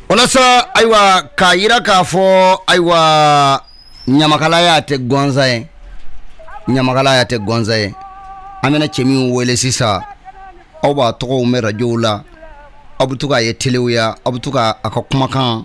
Walasa ayiwa k'a jira k'a fɔ ayiwa ɲamakalaya tɛ gansan ye ɲamakalaya tɛ gansan ye an bɛna cɛ min wele sisan aw b'a tɔgɔ mɛn arajow la aw bɛ to k'a ye telew la aw bɛ to k' a ka kumakan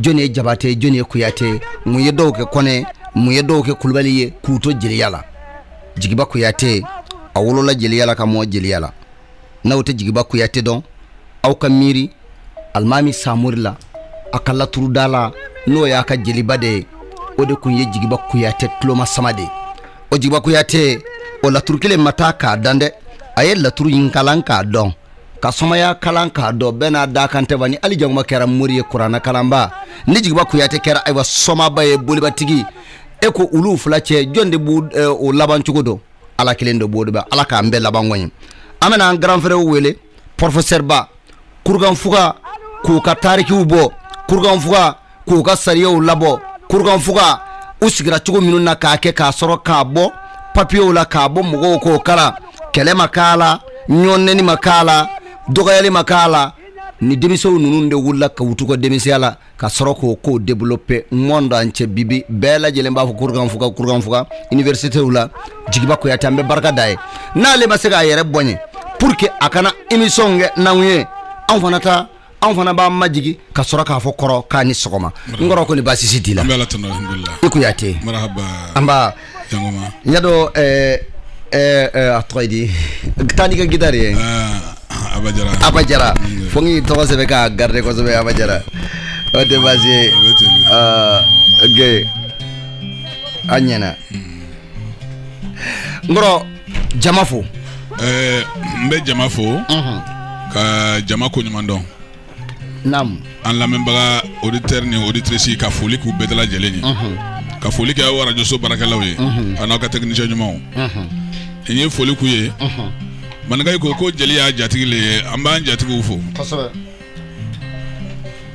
jɔn ye jabate jɔn ye kuyate mun ye dɔw kɛ kɔnɛ mun ye dɔw kɛ kulubali ye k'u to jeliya la jigiba kuyate a wolola jeliya la ka mɔ jeliya la n'aw tɛ jigiba kuyate dɔn aw ka miiri alimami samori la a ka laturudala n'o y'a ka jeliba de ye o de tun ye jigiba kuyate tulomasama de ye o jigiba kuyate o laturu kelen ma taa k'a dan dɛ a ye laturu in kalan k'a dɔn ka somaya kalan k'a dɔn bɛɛ n'a dakan tɛ ba ni ali jangoma kɛra mori ye kurana kalanba ni jigiba kuyate kɛra ayiwa somaba ye bolibatigi e ko olu fila cɛ jɔn de b'u eh, o laban cogo dɔn ala kelen de b'o dɔn ba ala k'an bɛɛ laban ko ɲi an bɛna an grand frère wele professeurba kurukanfuga ko k'a tarikiw bɔ kurukanfuga ko k'a sariyaw labɔ kurukanfuga u sigira cogo minnu na k'a kɛ k'a sɔrɔ k'a bɔ papiyew la k'a bɔ mɔgɔw k'o kalan kɛlɛ ma k'a la ɲɔnnɛni ma k'a la dɔgɔyali ma k'a la ni denmisɛnw ninnu de wulila k'u to u ka denmisɛnya la ka sɔrɔ k'o kow développer monde entier bi bi bɛɛ lajɛlen b'a fɔ kurukanfuga kurukanfuga universitéw la jigiba kuyate an bɛ barika d'a ye n'ale ma se k'a yɛrɛ bɔɲɛ pour que a ka na émission kɛ n'anw ye anw fana ta anw fana b'an majigin ka sɔrɔ k'a fo kɔrɔ k'a ni sɔgɔma n kɔrɔ kɔni baasi si t'i la an bɛ ala tanu alihamudulilayi i kuyate marahaba anba jangoma y'a dɔn a tɔgɔ ye di taa n'i ka gitari ye aba jara fo n k'i tɔgɔ sɛbɛn k'a garder kosɛbɛ aba jara o tɛ baasi ye kɛ a ɲɛna n kɔrɔ jama fo ɛɛ n bɛ jama fo ka jama ko ɲuman dɔn naamu an lamɛnbaga auditeur ni auditrice ka foli k'u bɛɛ lajɛlen ye ka foli kɛ aw arajoso baarakɛlaw ye a n'aw ka technicien ɲumanw n ye foli k'u ye maninkayi ko ko jeli y'a jatigi le ye an b'an jatigiw fo kosɛbɛ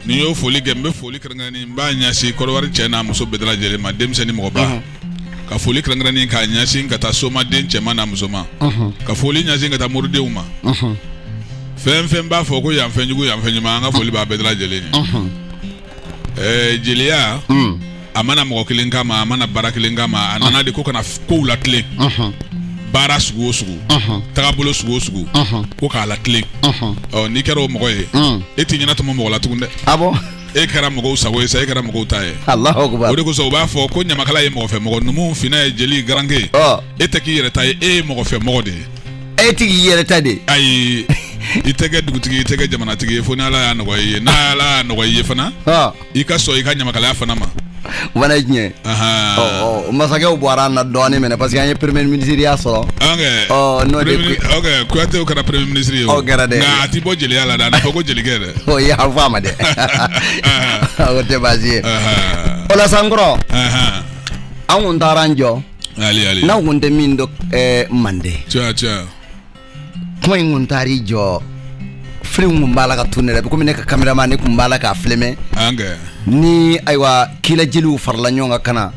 Ni n y'o foli kɛ n bɛ foli kɛrɛnkɛrɛnnen n b'a ɲɛsin Kɔdiwari cɛ n'a muso bɛɛ lajɛlen ma denmisɛn ni mɔgɔba, unhun, ka foli kɛrɛnkɛrɛnnen k'a ɲɛsin ka taa somaden cɛman n'a musoman, unhun, ka foli ɲɛsin ka taa moridenw ma, unhun, fɛn o fɛn b'a fɔ ko yan fɛn jugu yan fɛn ɲuman an ka foli b'a bɛɛ lajɛlen ye, unhun Ɛɛ jeliya a ma na mɔgɔ kelen kama a ma na baara kelen kama a nana de ko ka na ko latilen baara sugu o sugu tagabolo sugu o sugu ko k'a latilen n'i kɛra o mɔgɔ ye e t'i ɲɛnatɔmɔ mɔgɔ la tugun dɛ ah bon e kɛra mɔgɔw sago ye sa e kɛra mɔgɔw ta ye o de kosɔn u b'a fɔ ko ɲamakala ye mɔgɔfɛ mɔgɔ numu fina ye jeli garankɛ e tɛ k'i yɛrɛ ta ye e ye mɔgɔfɛ mɔgɔ de ye e tigi i yɛrɛ ta de ayi i tɛ kɛ dugutigi i tɛ kɛ jamanatigi ye fo ni ala y'a nɔgɔya i ye n'ala y'a nɔgɔya i ye fana i ka sɔn i ka ɲamakalaya fana ma o fana ye tiɲɛ masakɛw bɔra an na dɔɔnin minɛ parce que an ye premier ministreya sɔrɔ n'o de kuyatew kɛra premier ministre ye o kɛra dɛ nka a t'i bɔ jeliya la dɛ a na fɔ ko jelikɛ dɛ o ye an fɔ a ma dɛ o tɛ baasi ye o la sa n kɔrɔ an kun taara an jɔ n'aw kun tɛ min dɔn eh, mande komi i kun taar'i jɔ film kun b'a la ka tourner komi ne ka caméraman kun b'a la k'a filmer ni ayiwa kila jeliw farala ɲɔgɔn kan ka na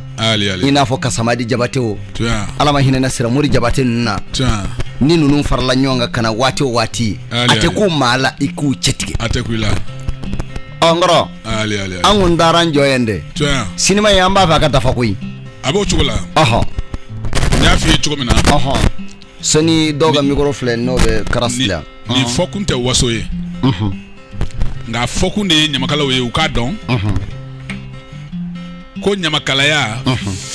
i n'a fɔ kasamadi jabate o ala ma hinɛna siramori jabate ninnu na ni ninnu farala ɲɔgɔn kan ka na waati o waati a tɛ kun maa la i k'u cɛtigɛ a tɛ kun i la ɔ n kɔrɔ an kun taara an jɔ yen dɛ sinima ye an b'a fɛ a ka dafa koyi A b'o cogo la n y'a fɔ i ye cogo min na sani dɔw ka mikɔrɔ filɛ n'o bɛ kara nin fɔkun tɛ waso ye nka fɔkun de ye ɲamakalaw ye u k'a dɔn ko ɲamakalaya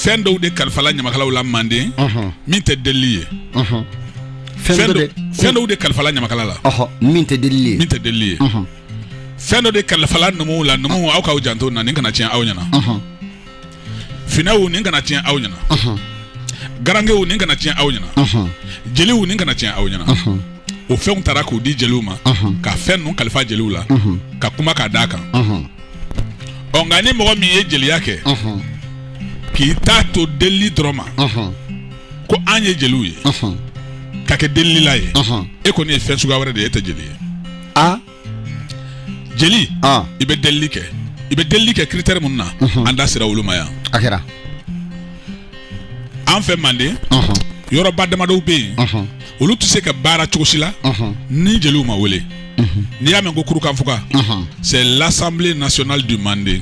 fɛn dɔw de kalifala ɲamakalaw la manden min tɛ deli ye fɛn dɔw de kalifala ɲamakala la min tɛ deli min tɛ deli ye fɛn dɔ de kalifala numuw la numuw aw k'aw janto o na nin kana tiɲɛ aw ɲɛna finɛw nin kana tiɲɛ aw ɲɛna garankew nin kana tiɲɛ aw ɲɛna jeliw nin kana tiɲɛ aw ɲɛna o fɛnw taara k'u di jeliw ma ka fɛn ninnu kalifa jeliw la ka kuma k'a d'a kan ɔ nka ni mɔgɔ min ye jeliya kɛ k'i t'a to delili dɔrɔn ma ko an ye jeliw ye ka kɛ delilila ye e kɔni ye fɛn suguya wɛrɛ de ye e tɛ jeli ye jeli i bɛ delili kɛ i bɛ delili kɛ critère minnu na an da sera olu ma yan a kɛra an fɛ manden yɔrɔba damadɔ bɛ yen olu tɛ se ka baara cogo si la ni jeliw ma wele n'i y'a mɛn ko kurukanfuga c'est l'assemblée nationale du manden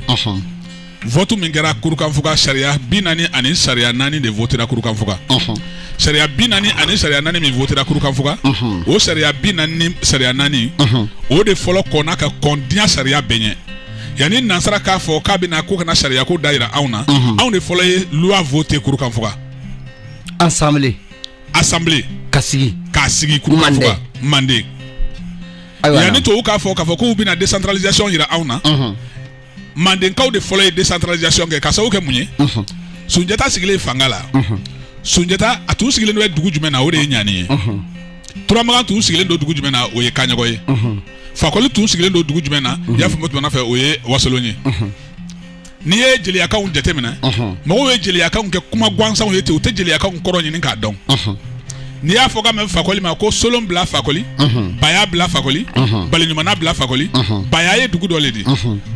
Vote min kɛra kurukanfuga sariya bi naani ani sariya naani de votera kurukanfuga. Ɔnhɔn. Sariya bi naani ani sariya naani min votera kurukanfuga. Ɔnhɔn. O sariya bi naani ni sariya naani. Ɔnhɔn. O de fɔlɔ kɔnna ka kɔn diɲɛ sariya bɛɛ ɲɛ. Yanni nansara k'a fɔ k'a bɛna ko ka na sariya ko da yira anw na. Ɔnhɔn. Anw de fɔlɔ ye loi voter kurukanfuga. Assemblée. Assemblée. Ka sigi. K'a sigi kurukanfuga. Manden. Manden. Ayiwa na. Yanni tubabuw k'a fɔ k'a fɔ k'u bɛna décentralisation yira anw na. Ɔnhɔn. mandenkaw de fɔlɔ ye décentralisation kɛ k'a sababu kɛ mun ye sunjata sigilen fanga la sunjata a tun sigilen bɛ dugu jumɛn na o de ye ɲani ye turamagan tun sigilen don dugu jumɛn na o ye kaɲɔgɔ ye fakoli tun sigilen don dugu jumɛn na i y'a faamu tuma fɛ o ye wasolon ye n'i ye jeliyakanw jateminɛ mɔgɔw ye jeliyakanw kɛ kuma gansanw ye ten u tɛ jeliyakanw kɔrɔ ɲini k'a dɔn n'i y'a fɔ ka mɛn fakoli ma ko solon bila fakoli baya bila fakoli baliɲumana bila fakoli baya ye dugu dɔ le di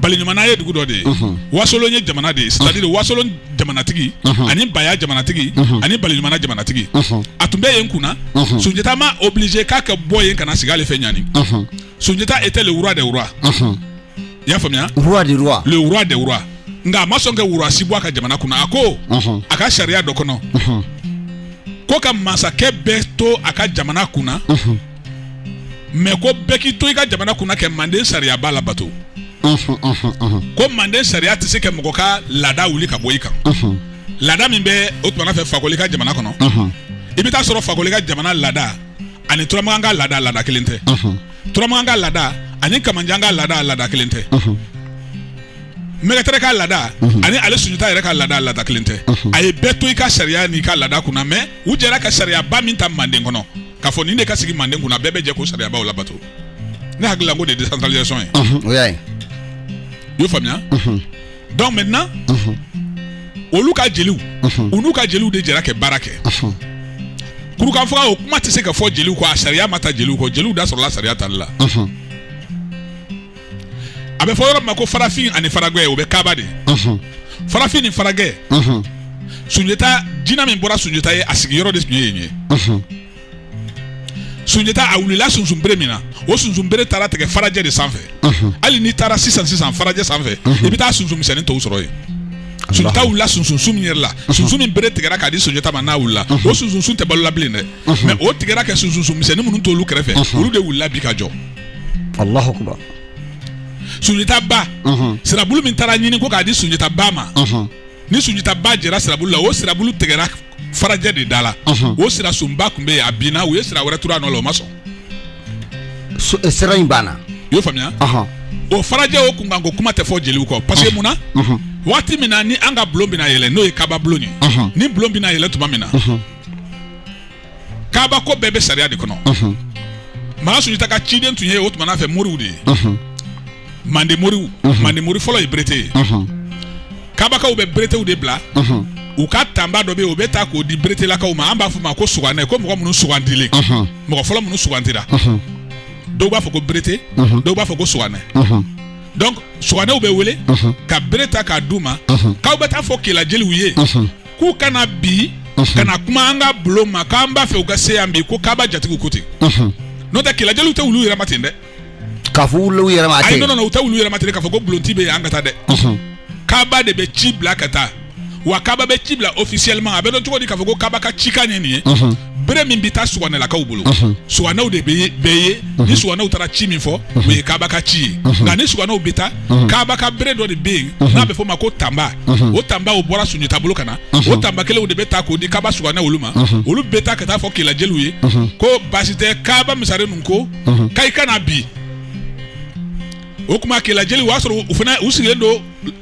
baliɲumana ye dugu dɔ de ye wasolon ye jamana de ye c'est-à-dire wasolon jamanatigi ani baya jamanatigi ani baliɲumana jamanatigi a tun bɛ yen kunna sunjata ma obligé k'a ka bɔ yen ka na sigi ale fɛ ɲani sunjata était le roi des rois i y'a faamuya roi des rois le roi des rois nka a ma sɔn ka roi si bɔ a ka jamana kunna a ko a ka sariya dɔ kɔnɔ ko ka masakɛ bɛɛ to a ka jamana kunna mais ko bɛɛ k'i to i ka jamana kunna ka manden sariyaba labato ko manden sariya tɛ se ka mɔgɔ ka laada wuli ka bɔ i kan laada min bɛ o tuma fɛ fakoli ka jamana kɔnɔ i bɛ taa sɔrɔ fakoli ka jamana laada ani turamakan ka laada laada kelen tɛ turamagan ka laada ani kamanjan ka laada laada kelen tɛ mɛgɛtɛrɛ ka laada ani ale sunjata yɛrɛ ka laada laada kelen tɛ a ye bɛɛ to i ka sariya n'i ka laada kunna mais u jɛra ka sariyaba min ta manden kɔnɔ k'a fɔ nin de ka sigi manden kunna bɛɛ bɛ jɛ k'o sariyabaw labato ne hakili la k'o de ye décentralisation ye o y'a ye i y'o faamuya donc maintenant mhm. olu ka jeliw mhm. u n'u ka jeliw de jɛra ka baara kɛ mhm. kurukanfuga o kuma tɛ se ka fɔ jeliw kɔ a sariya ma ta jeliw kɔ jeliw da sɔrɔla sariya tali la a bɛ fɔ yɔrɔ min ma ko farafin ani faragɛ o bɛ kaba de farafin ni faragɛ sunjata jina min bɔra sunjata ye a sigiyɔrɔ de tun ye yen ye sunjata a wulila sunsunbere min na o sunsunbere taara tigɛ farajɛ de sanfɛ hali n'i taara sisan sisan farajɛ sanfɛ i bɛ taa sunsun misɛnnin tɔw sɔrɔ yen sunjata wulila sunsunsun min yɛrɛ la sunsun min bere tigɛra k'a di sunjata ma n'a wulila o sunsunsun tɛ balola bilen dɛ mais o tigɛra kɛ sunsunsun misɛnnin minnu t'olu kɛrɛfɛ olu de wulila bi ka jɔ alahu akubar sunjata ba sirabulu min taara ɲini ko k'a di sunjata ba ma ni sunjata ba jɛra sirabulu la o sirabulu tigɛra farajɛ de da la o sira sunba tun bɛ yen a binna u ye sira wɛrɛ turu a nɔ la o ma sɔn eh, sira in banna i y'o faamuya o farajɛ o kunkanko kuma tɛ fɔ jeliw kɔ parce que mun na waati min na ni an ka bulon bɛna yɛlɛ n'o ye kaba bulon ye ni bulon bɛna yɛlɛ tuma min na kaba ko bɛɛ bɛ sariya de kɔnɔ magan sunjata ka ciden tun ye o tuma fɛ moriw de ye mande moriw mande mori fɔlɔ ye berete ye kabakaw bɛ beretew de bila u ka tanba dɔ bɛ yen u bɛ taa k'o di beretelakaw ma an b'a fɔ ma ko suganɛ ko mɔgɔ minnu sugandilen mɔgɔ fɔlɔ minnu sugandira dɔw b'a fɔ ko berete dɔw b'a fɔ ko suganɛ donc suganɛw bɛ wele ka bere ta k'a d'u ma k'aw bɛ taa fɔ kelajeliw ye k'u ka na bi ka na kuma an ka bulon ma k'an b'a fɛ u ka se yan bi ko kaba jatigiw ko ten n'o tɛ kelajeliw tɛ wuli u yɛrɛ ma ten dɛ k'a fɔ wuli u yɛrɛ ma ayi non non u tɛ wuli u yɛrɛ ma ten k'a fɔ ko bulonti bɛ yen an ka taa dɛ kaba de bɛ ci bila ka taa wa kaba bɛ ci bila officiellement a bɛ dɔn cogo di k'a fɔ ko kaba ka cikan ye nin ye bere min bɛ taa suganɛlakaw bolo suganɛw de bɛ yen ni suganɛw taara ci min fɔ o ye kaba ka ci ye nka ni suganɛw bɛ taa kaba ka bere dɔ de bɛ yen n'a bɛ fɔ o ma ko tanba o tanba o bɔra sunjata bolo ka na o tanba kelenw de bɛ taa k'o di kaba suganɛ olu ma olu bɛ taa ka taa fɔ kela jeliw ye ko baasi tɛ kaba masaren ninnu ko mhm. k'i ka na bi o kuma kela jeliw o y'a sɔrɔ u fana u sigilen don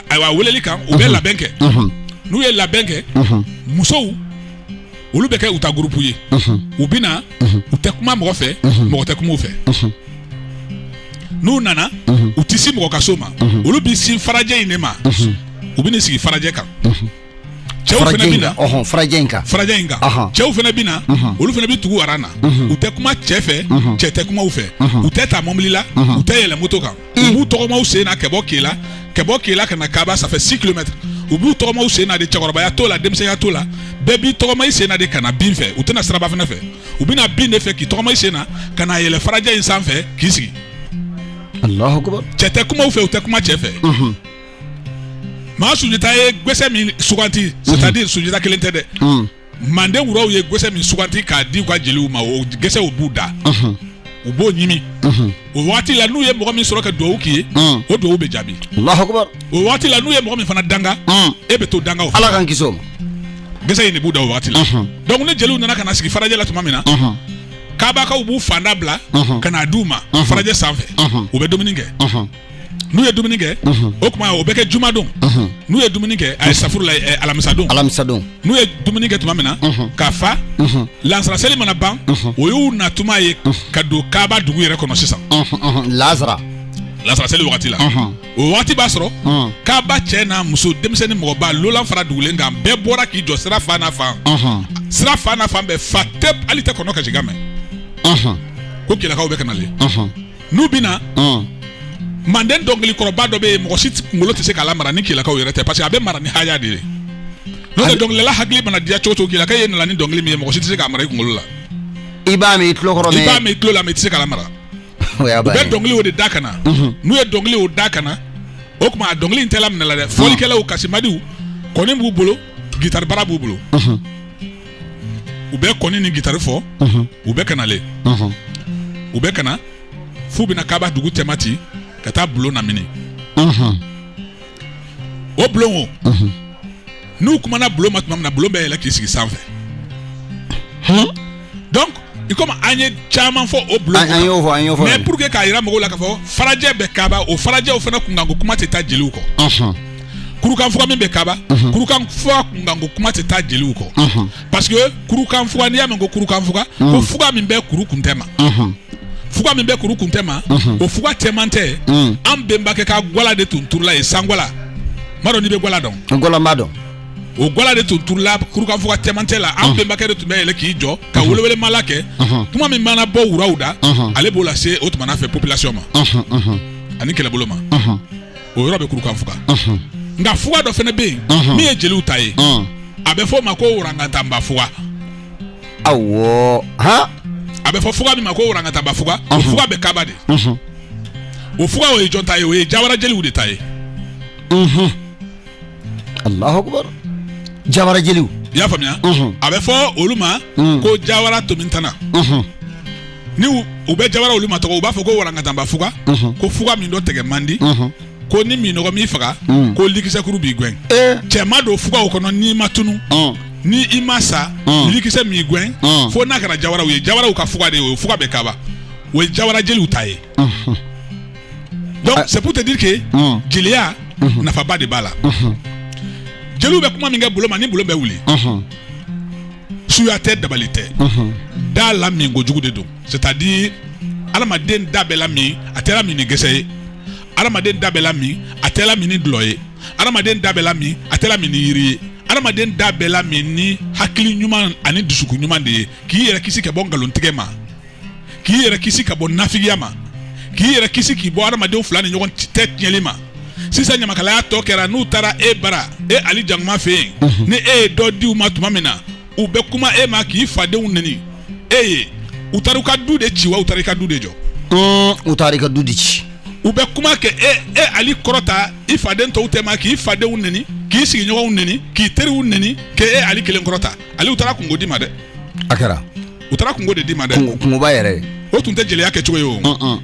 ayiwa weleli kan u bɛ mhm. labɛn kɛ mhm. n'u ye labɛn kɛ musow olu bɛ kɛ u ta gurupu ye u bɛ na u tɛ kuma mɔgɔ fɛ mɔgɔ tɛ kuma u fɛ n'u nana u tɛ se mɔgɔ ka so ma olu bɛ sin farajɛ in de ma u bɛ n'i sigi farajɛ kan cɛw fana bɛ na ɔhɔn farajɛ in kan farajɛ in kan cɛw fana bɛ na olu fana bɛ tugu aran na u tɛ kuma cɛ fɛ cɛ tɛ kuma u fɛ u tɛ taa mɔbili la u tɛ yɛlɛ moto kan u b'u tɔgɔma u sen na ka bɔ kela ka bɔ kela ka na kaba ça fait six kilomètres u b'u tɔgɔma u sen na de cɛkɔrɔbaya t'o la denmisɛnya t'o la bɛɛ b'i tɔgɔma i sen na de ka na bin fɛ u tɛna siraba fana fɛ u bɛna bin de fɛ k'i tɔgɔma i sen na ka na yɛlɛ farajɛ in sanfɛ k'i sigi Allahu akbar cɛ tɛ kuma u fɛ u tɛ kuma cɛ fɛ maa sunjata ye gɛsɛ min suganti c'est-à-dire sunjata kelen tɛ dɛ Hmm. manden wuraw ye gɛsɛ min suganti k'a di u ka jeliw ma o gɛsɛ o b'u da Mhm. u b'o ɲimi Mhm. o waati la n'u ye mɔgɔ min sɔrɔ ka duwawu k'i ye Hmm. o duwawu bɛ jaabi Allahu akbar. o waati la n'u ye mɔgɔ min fana danga Hmm. e bɛ to danga o fɛ Ala k'an kisi o ma. gɛsɛ in de b'u da o waati la Mhm. donc ni jeliw nana ka na sigi farajɛ la tuma min na Mhm. kabakaw b'u fanda bila Mhm. ka n'a d'u ma Mhm. farajɛ sanfɛ Mhm. u bɛ dumuni kɛ Mhm. n'u ye dumuni kɛ o tuma o bɛ kɛ jumadon n'u ye dumuni kɛ ayi safurula alamisadon alamisadon n'u ye dumuni kɛ tuma min na ka fa lasara seli mana ban o y'u na tuma ye ka don kaba dugu yɛrɛ kɔnɔ sisan lasara lasara seli wagati la o waati b'a sɔrɔ kaba cɛ n'a muso denmisɛnnin mɔgɔba lolan fara dugulen kan bɛɛ bɔra k'i jɔ sira fan n'a fan sira fan n'a fan bɛ fa tewu hali i tɛ kɔnɔ kasikan mɛn ko kelakaw bɛ ka nalen n'u bɛ na manden dɔnkilikɔrɔba dɔ bɛ yen mɔgɔ si kunkolo tɛ se k'a lamara ni kelakaw yɛrɛ tɛ parce que a bɛ mara ni haya de ye n'o tɛ dɔnkilidala hakili mana diya cogo o cogo kelaka ye nana ni dɔnkili min ye mɔgɔ si tɛ se k'a mara i kunkolo la i b'a mɛn i tulo kɔrɔ i b'a mɛn i tulo la mais i tɛ se k'a lamara u bɛ dɔnkili o de da ka na mhm. n'u ye dɔnkili o da ka na o tuma a dɔnkili in tɛ laminɛ la dɛ fɔlikɛlaw kasimadiw kɔni b'u bolo gitari bara b'u bolo mhm. u bɛ kɔni ni gitari fɔ u bɛ ka nalen u bɛ ka na f'u bɛna kaba dugu cɛma ci ka taa bulon lamini o bulon o n'u kumana bulon ma tuma min na bulon bɛ yɛlɛ k'i sigi sanfɛ i komi an ye caman fɔ o bulon an y'o fɔ an y'o fɔ mais pour que k'a yira mɔgɔw la k'a fɔ farajɛ bɛ kaba o farajɛw fana kunkanko kuma tɛ taa jeliw kɔ kurukanfuga min bɛ kaba kurukanfuga kunkanko kuma tɛ taa jeliw kɔ parce que kurukanfuga n'i y'a mɛn ko kurukanfuga ko fuga min bɛ kuru kuntɛ ma fuga min bɛ kuru kuntɛ ma o fuga cɛmantɛ an bɛnbakɛ ka gwala de tun turula yen sangwala m'a dɔn n'i bɛ gwala dɔn gwala m'a dɔn o gwala de tun turula kurukanfuga cɛmancɛ la an bɛnbakɛ de tun bɛ yɛlɛ k'i jɔ ka welewele mala kɛ kuma min mana bɔ wuraw da ale b'o lase o tuma fɛ population ma ani kɛlɛbolo ma o yɔrɔ bɛ kurukanfuga nka fuga dɔ fana bɛ yen min ye jeliw ta ye a bɛ fɔ o ma ko warangatanba fuga awɔ a bɛ fɔ fuga min ma ko warangatanba fuga o fuga bɛ kaba de o fuga o ye jɔn ta ye o ye jawara jeliw de ta ye Alahu Akibaru jawara jeliw i y'a faamuya a bɛ fɔ olu ma ko jawara tomintana ni u bɛ jawara olu matɔgɔ u b'a fɔ ko warangatanba fuga ko fuga min dɔtigɛ man di ko ni minnɔgɔ m'i faga ko likisɛkuru b'i gɛn cɛ ma don fuga o kɔnɔ n'i ma tunu ni i ma sa likisɛ m'i gɛn fo n'a kɛra jawaraw ye jawaraw ka fuga de ye o fuga bɛ kaba o ye jawara jeliw ta ye donc ah. c'est pour te dire que mm. jeliya mhm. nafaba de b'a la mhm. jeliw bɛ kuma min kɛ bolon ma ni bolon bɛ wuli mhm. suya tɛ dabali tɛ da lamin kojugu de don c'est à dire adamaden da bɛ lamin a tɛ lamin ni gɛsɛ ye adamaden da bɛ lamin a tɛ lamin ni dulɔ ye adamaden da bɛ lamin a tɛ lamin ni yiri ye adamaden da bɛ lamin ni hakili ɲuman ani dusukun ɲuman de ye k'i yɛrɛ kisi ka bɔ nkalontigɛ ma k'i yɛrɛ kisi ka bɔ nafigiya ma k'i yɛrɛ kisi k'i bɔ adamadenw fila ni ɲɔgɔn tɛ tiɲɛli ma sisan ɲamakalaya tɔ kɛra n'u taara e bara e ali jankoma fɛ yen mhm. ni e ye dɔ di u ma tuma min na u bɛ kuma e ma k'i fadenw neni e ye u taara i ka du de ci wa u taara i ka du de jɔ mm, u taara i ka du de ci u bɛ kuma kɛ e e ali kɔrɔta i faden tɔw tɛma k'i fadenw neni k'i sigiɲɔgɔnw neni k'i teriw neni k'e e ali kelen kɔrɔta ali u taara kunko d'i ma dɛ a kɛra u taara kunko de d'i ma dɛ kunko- kunkoba yɛrɛ ye o tun tɛ jeliya kɛ cogo ye o Ɔn, ɔn,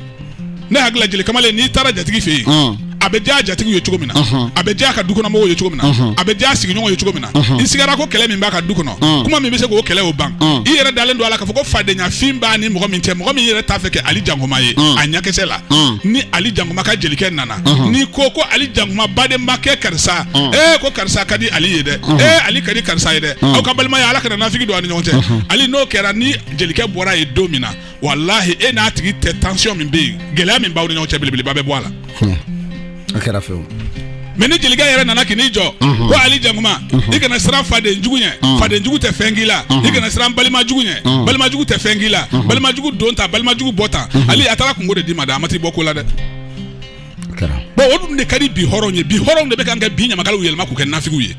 ne hakili la jeli kamalen n'i taara jatigi fɛ yen ɔn. a bɛ diya jatigiw ye cogo min na Ɔhɔn. a bɛ diya ka dukɔnɔmɔgɔw ye cogo min na Ɔhɔn. a bɛ diya sigiɲɔgɔnw ye cogo min na Ɔhɔn. i sigara ko kɛlɛ min b'a ka du kɔnɔ Ɔn. kuma min bɛ se k'o kɛlɛ o ban Ɔn. i yɛrɛ dalen don a la k'a fɔ ko fadenyafin b'a ni mɔgɔ min cɛ mɔgɔ min yɛrɛ t'a fɛ k'e ali jankoma ye Ɔn. a ɲɛkisɛ la Ɔn. ni ali jankoma ka jelikɛ nana n'i ko ko ali jankuma badenma kɛ karisa e ko karisa ka di ali ye dɛ e ali ka di karisa ye dɛ aw ka balimaya ala kana nafigi don a ni ɲɔgɔn cɛ ali n'o kɛra ni jelikɛ bɔra yen don min na walahi e n'a tigi tɛ tansiyɔn min bɛ yen gɛlɛya min b'aw ni ɲɔgɔn cɛ belebeleba bɛ bɔ a la a kɛra fewu mais ni jelikɛ yɛrɛ nana k'i jɔ ko ali jankuma i kana siran fadenjugu ɲɛ fadenjugu tɛ fɛn k'i la i kana siran balimajugu ɲɛ balimajugu tɛ fɛn k'i la balimajugu don ta balimajugu bɔ ta ali a taara kunko de d'i ma dɛ a ma t'i bɔ ko la dɛ bon o dun de ka di bi hɔrɔnw ye bi hɔrɔnw de bɛ kan ka bi ɲamakalaw yɛlɛma k'u kɛ nafigiw ye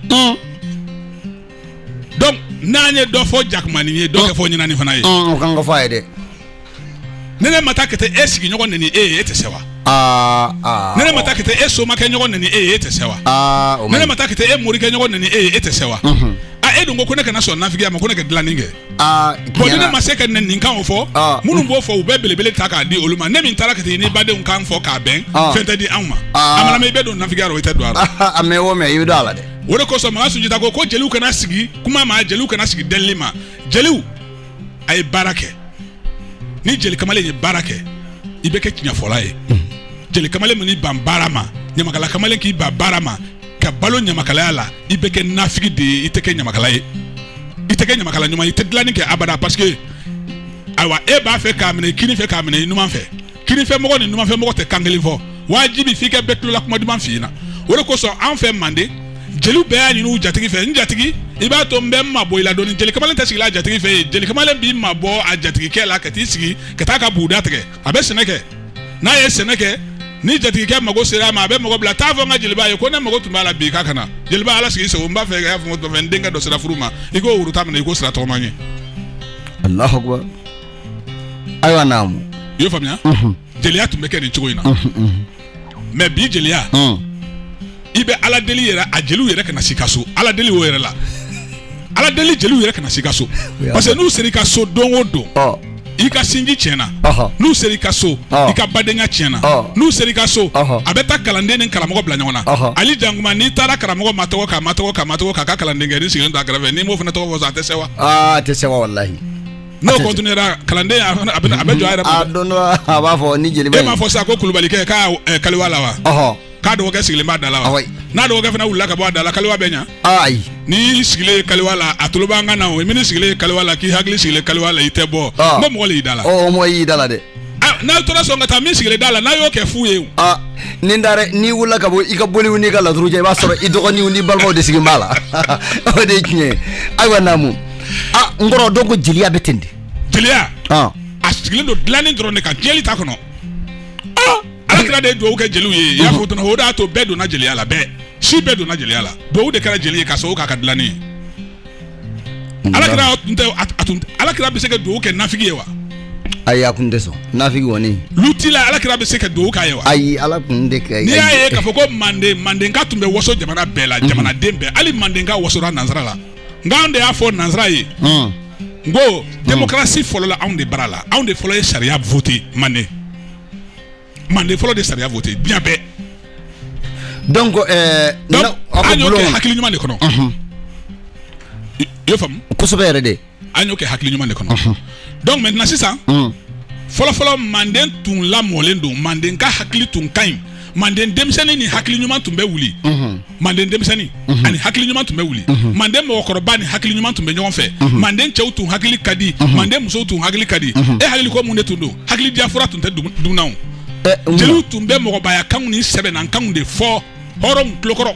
donc n'an ye dɔ fɔ jakumani ye dɔ kɛ fɔ ɲinani fana ye o kan ka fɔ a ye dɛ ne ne ma taa ka taa e sigiɲɔgɔn neni e ye e tɛ se wa ne ne ma taa ka taa e somakɛ ɲɔgɔn neni e ye e tɛ se wa ne ne ma taa ka taa e morikɛ ɲɔgɔn neni e ye e tɛ se wa a e dun ko ko ne kana sɔn nafigiya ma ko ne ka dilanni kɛ Ah, bon ni ne ma se ka nin kanw fɔ ah. minnu b'o fɔ u bɛ belebele ta k'a di olu ma ne min taara ka taa ni badenw kan fɔ k'a bɛn ah. fɛn tɛ di anw ma a mana mɛɛn i bɛ don nafigiya la o i tɛ don a la a mɛɛn o mɛɛn i bɛ don a la dɛ o de kosɔn makan sunjata ko ko jeliw kana sigi kuma ma jeliw kana sigi delili ma jeliw a ye baara kɛ ni jeli kamalen ye baara kɛ i bɛ kɛ tiɲɛfɔla ye hmm. jeli kamalen min ban baara ma ɲamakala kamalen k'i ban baara ma ka balo ɲamakalaya la i bɛ kɛ nafigi de ye i tɛ kɛ ɲamakala ye i tɛ kɛ ɲamakala ɲuman i tɛ dilanni kɛ abada parce que ayiwa e b'a fɛ k'a minɛ kini fɛ k'a minɛ i numan fɛ kini fɛ mɔgɔ ni numan fɛ mɔgɔ tɛ kan kelen fɔ wajibi f'i ka bɛɛ tulola kuma duman f'i ɲɛna o de kosɔn an fɛ manden jeliw bɛɛ y'a ɲini u jatigi fɛ n jatigi i b'a to n bɛ n mabɔ i la dɔɔni jeli kamalen tɛ sigi a jatigi fɛ yen jeli kamalen b'i mabɔ a jatigikɛ la ka t'i sigi ka taa ka buguda tigɛ a bɛ sɛnɛ kɛ n'a ye sɛnɛ kɛ ni jatigikɛ mago sera a ma a bɛ mɔgɔ bila t'a fɔ n ka jeliba ye ko ne mago tun b'a la bi k'a ka na jeliba ala sago i sago n b'a fɛ k'a fɔ n denkɛ dɔ sera furu ma i k'o woro tan minɛ i k'o sira tɔgɔma n ye alahu akbar ayiwa naamu i y'o faamuya jeliya tun bɛ kɛ nin cogo in na mais bi jeliya i bɛ ala deli yɛrɛ a jeliw yɛrɛ kana s'i ka so ala deli o yɛrɛ la ala deli jeliw yɛrɛ kana s'i ka so parce que n'u sera i ka so don o don i ka sinji tiɲɛna n'u sera i ka so i ka badenya tiɲɛna n'u sera i ka so a bɛ taa kalanden ni karamɔgɔ bila ɲɔgɔn na ali jankuma n'i taara karamɔgɔ ma tɔgɔ k'a ka kalandenkɛ nin sigilen t'a kɛrɛfɛ n'i m'o fana tɔgɔ fɔ a tɛ se wa a tɛ se walahi n'o continuera kalanden a fana a bɛ a bɛ jɔ a yɛrɛ ma a dɛ don dɔ la a b'a fɔ ni jeliba e in m'a fɔ sisan ko kulubalikɛ k'a ɛ, kaliwa la wa ɔhɔ k'a dɔgɔkɛ sigilen b'a da la wa Awɔ. n'a dɔgɔkɛ fana wulila ka bɔ a da la kaliwa bɛ ɲa ayi n'i sigilen ye kaliwa la a tulo b'an kan na o min sigilen ye kaliwa la k'i hakili sigilen kaliwa la i tɛ bɔ Ah. n ko mɔgɔ le y'i da la ɔ o mɔgɔ y'i da la dɛ Ah, n'a tora sɔn ka taa min sigilen da la n'a y'o kɛ fu ye o. a ni n taara n'i wulila ka bɔ i ka boliw n'i ka laturu cɛ i b'a sɔrɔ i dɔgɔninw n'i balimaw de sigilen b'a la o de ye tiɲɛ ye ayiwa naamu ah n kɔrɔ donc jeliya bɛ ten de jeliya ah. a sigilen don dilanni dɔrɔn de kan tiɲɛli t'a kɔnɔ ah. ala kira de ye dugawu kɛ jeliw ye i y'a fɔ tɔnɔ o de y'a to bɛɛ donna jeliya la bɛɛ si bɛɛ donna jeliya la dugawu de kɛra jeli ye ka sababu k'a ka dilanni ye mm. ala kira tun tɛ a tun ala kira bɛ se ka dugawu kɛ nafigi ye wa ayi a kun tɛ sɔn nafigi kɔni luti la ala kira bɛ se ka dugawu k'a ye wa ayi ala kun tɛ kɛ n'i y'a ye k'a fɔ ko manden mandenka tun bɛ waso jamana bɛɛ la jamanaden bɛɛ hali mandenka wasora nansara la n k'an de y'a fɔ nansara ye n ko demokarasi fɔlɔla anw de bara la anw de fɔlɔ ye sariya vote manden manden fɔlɔ de sariya vote diɲɛ bɛɛ donc euh, donc na- aw ka an y'o bulon kɛ kɔnɔ. hakili ɲuman de kɔnɔ Ɔhɔn. i y'o faamu kosɛbɛ yɛrɛ de an y'o kɛ hakili ɲuman de kɔnɔ donc maintenant sisan Ɔn. fɔlɔfɔlɔ manden tun lamɔlen don manden ka hakili tun ka ɲi manden denmisɛnnin ni hakili ɲuman tun bɛ wuli mhm. manden denmisɛnnin mhm. ani hakili ɲuman tun bɛ wuli mhm. manden mɔgɔkɔrɔba ni hakili ɲuman tun bɛ ɲɔgɔn fɛ manden cɛw tun hakili ka di manden musow tun hakili ka di e hakili ko mun de tun don hakili diyafura tun tɛ dun non eh, jeliw tun bɛ mɔgɔbaya kanw ni sɛbɛnna kanw de fɔ hɔrɔnw tulokɔrɔ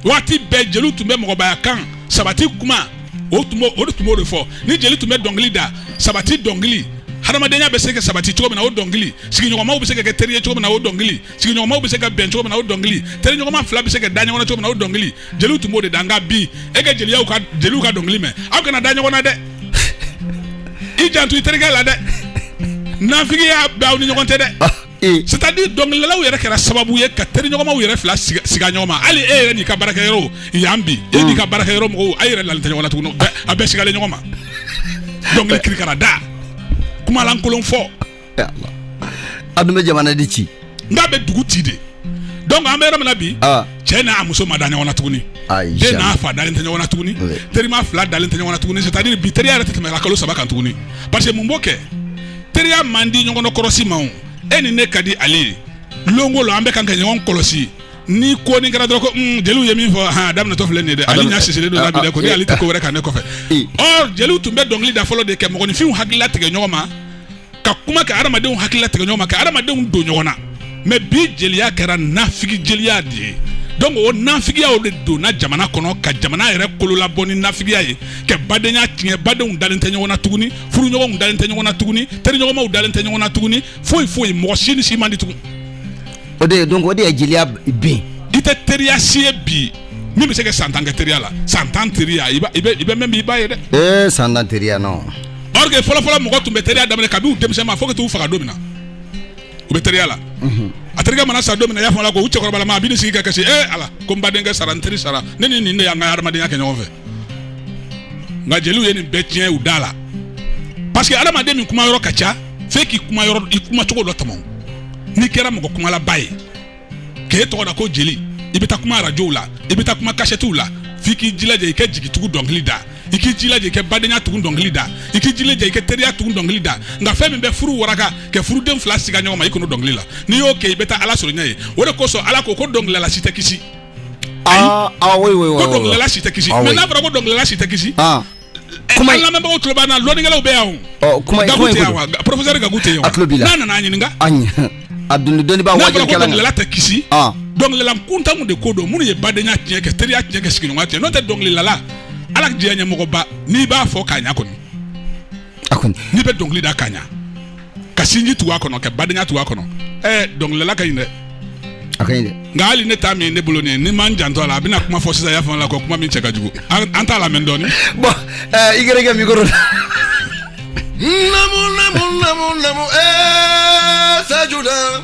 waati bɛɛ jeliw tun bɛ mɔgɔbaya kan sabati kuma o tun b'o o de tun b'o de fɔ ni jeli tun bɛ dɔnkili da sabati dɔnkili hadamadenya bɛ se ka sabati cogo min na o dɔnkili sigiɲɔgɔnmaw bɛ se ka kɛ teri ye cogo min na o dɔnkili sigiɲɔgɔnmaw bɛ se ka bɛn cogo min na o dɔnkili teriɲɔgɔnma fila bɛ se ka da ɲɔgɔn na cogo min na o dɔnkili jeliw tun b'o de da nka bi e ka jeliyaw ka jeliw ka dɔnkili mɛn aw kana da ɲɔgɔn na dɛ i janto i terikɛ la dɛ nafigiya bɛ aw ni ɲɔgɔn tɛ dɛ c'est-à-dire dɔnkilidalaw yɛrɛ kɛra sababu ye ka teriɲɔgɔnmaw yɛrɛ fila siga ɲɔgɔn ma hali e yɛrɛ n'i ka baarakɛyɔrɔ yan bi e n'i ka baarakɛyɔrɔ mɔgɔw a yɛrɛ lalen tɛ ɲɔgɔn na tuguni a bɛɛ sigalen ɲɔgɔn ma dɔnkili kirikara da kumalankolon fɔ a bɛ jamana de ci n bɛ dugu ci de donc an bɛ yɔrɔ min na bi cɛ n'a muso ma da ɲɔgɔn na tuguni den n'a fa dalen tɛ ɲɔgɔn na tuguni terima fila dalen tɛ ɲɔgɔn na tuguni c'est-à-dire bi teriya yɛrɛ tɛ tɛmɛ kalo saba kan tuguni parce que mun b'o kɛ teriya man di ɲɔgɔn kɔrɔsi ma e ni ne ka di ale ye lonko la an bɛ kan ka ɲɔgɔn kɔlɔsi ni ko ni kɛra dɔrɔn ko hmm, jeliw ye min fɔ ha daminɛtɔ filɛ nin dɛ ale ɲa sisilen don labɛn ko ni ale tɛ ko wɛrɛ kan ne kɔfɛ ɔ jeliw tun bɛ dɔnkili da fɔlɔ de ka mɔgɔninfinw hakili latigɛ ɲɔgɔn ma ka kuma ka adamadenw hakili latigɛ ɲɔgɔn ma ka adamadenw don ɲɔgɔn na mais bi jeliya kɛra nafigi jeliya de ye donc o nafigiya o de donna jamana kɔnɔ ka jamana yɛrɛ kolo labɔ ni nafigiya ye ka badenya tiɲɛ badenw dalen tɛ ɲɔgɔn na tuguni furuɲɔgɔnw dalen tɛ ɲɔgɔn na tuguni teriɲɔgɔnmaw dalen tɛ ɲɔgɔn na tuguni foyi foyi mɔgɔ si ni si man di tugun o de ye donc o de ye jeliya bin i tɛ teriya si ye bi min bɛ se ka san tan kɛ teriya la san tan teriya i bɛ mɛn bi i b'a ye dɛ ee san tan teriya non or que fɔlɔfɔlɔ mɔgɔ tun bɛ teriya daminɛ kabini u denmisɛnma fo ka t'u fara don min na u bɛ teriya la mhm. a terikɛ mana sa don min na i y'a fɔ a la ko u cɛkɔrɔbalama bɛ n'i sigi ka kasi ee ala ko n badenkɛ sara n teri sara ne ni nin de y'an ka hadamadenya kɛ ɲɔgɔn fɛ nka jeliw ye nin bɛɛ tiɲɛ u da la parce que adamaden min kuma yɔrɔ ka ca f'e k'i kuma yɔrɔ i kuma cogo dɔ tɔmɔ n'i kɛra mɔgɔ kumalaba ye k'e tɔgɔ da ko jeli i bɛ taa kuma arajow la i bɛ taa kuma kasɛtiw la f'i k'i jilaja i kɛ jigitugu dɔnkili da i k'i jilaja i kɛ badenya tugun dɔnkili da i k'i jilaja i kɛ teriya tugun dɔnkili da nka fɛn min bɛ furu waraka kɛ furuden fila siga ɲɔgɔn ma i kan'o dɔnkili la n'i y'o kɛ i bɛ taa ala sɔrɔ ɲɛ ye o de kosɔn ala ko ko dɔnkililala si tɛ kisi dɔnkilila si tɛ kisi mais n'a fɔra ko dɔnkilila si tɛ kisi kuma lamɛnbagaw tulo b'an na lɔnnikɛlaw bɛ yan o kuma gaku tɛ yan wa professeur gaku tɛ yan a tulo b'i la n'a nana a ɲininka a ɲɛ a doni dɔnnibaa wajibi kɛla n'a fɔra ko dɔnkilila tɛ kisi dɔnkilila kuntanw de ko don minnu ye badenya tiɲɛ kɛ teriya tiɲɛ kɛ sigiɲɔgɔnya tiɲɛ n'o tɛ dɔnkililala ala diyanye mɔgɔba n'i b'a fɔ k'a ɲa kɔni A kɔni n'i bɛ dɔnkili da ka ɲa ka sinji tugu a kɔnɔ ka badenya tugu a kɔnɔ ɛɛ dɔnkilila ka ɲi dɛ a ka ɲi dɛ nka hali ne ta min ne bolo nin ni n ma n janto a la a bɛna kuma fɔ sisan y'a fɔ la ko kuma min cɛ ka jugu an an t'a lamɛn dɔɔni bon ɛɛ i gɛrɛ kɛ mikoro la namu namu namu namu ɛɛ sajula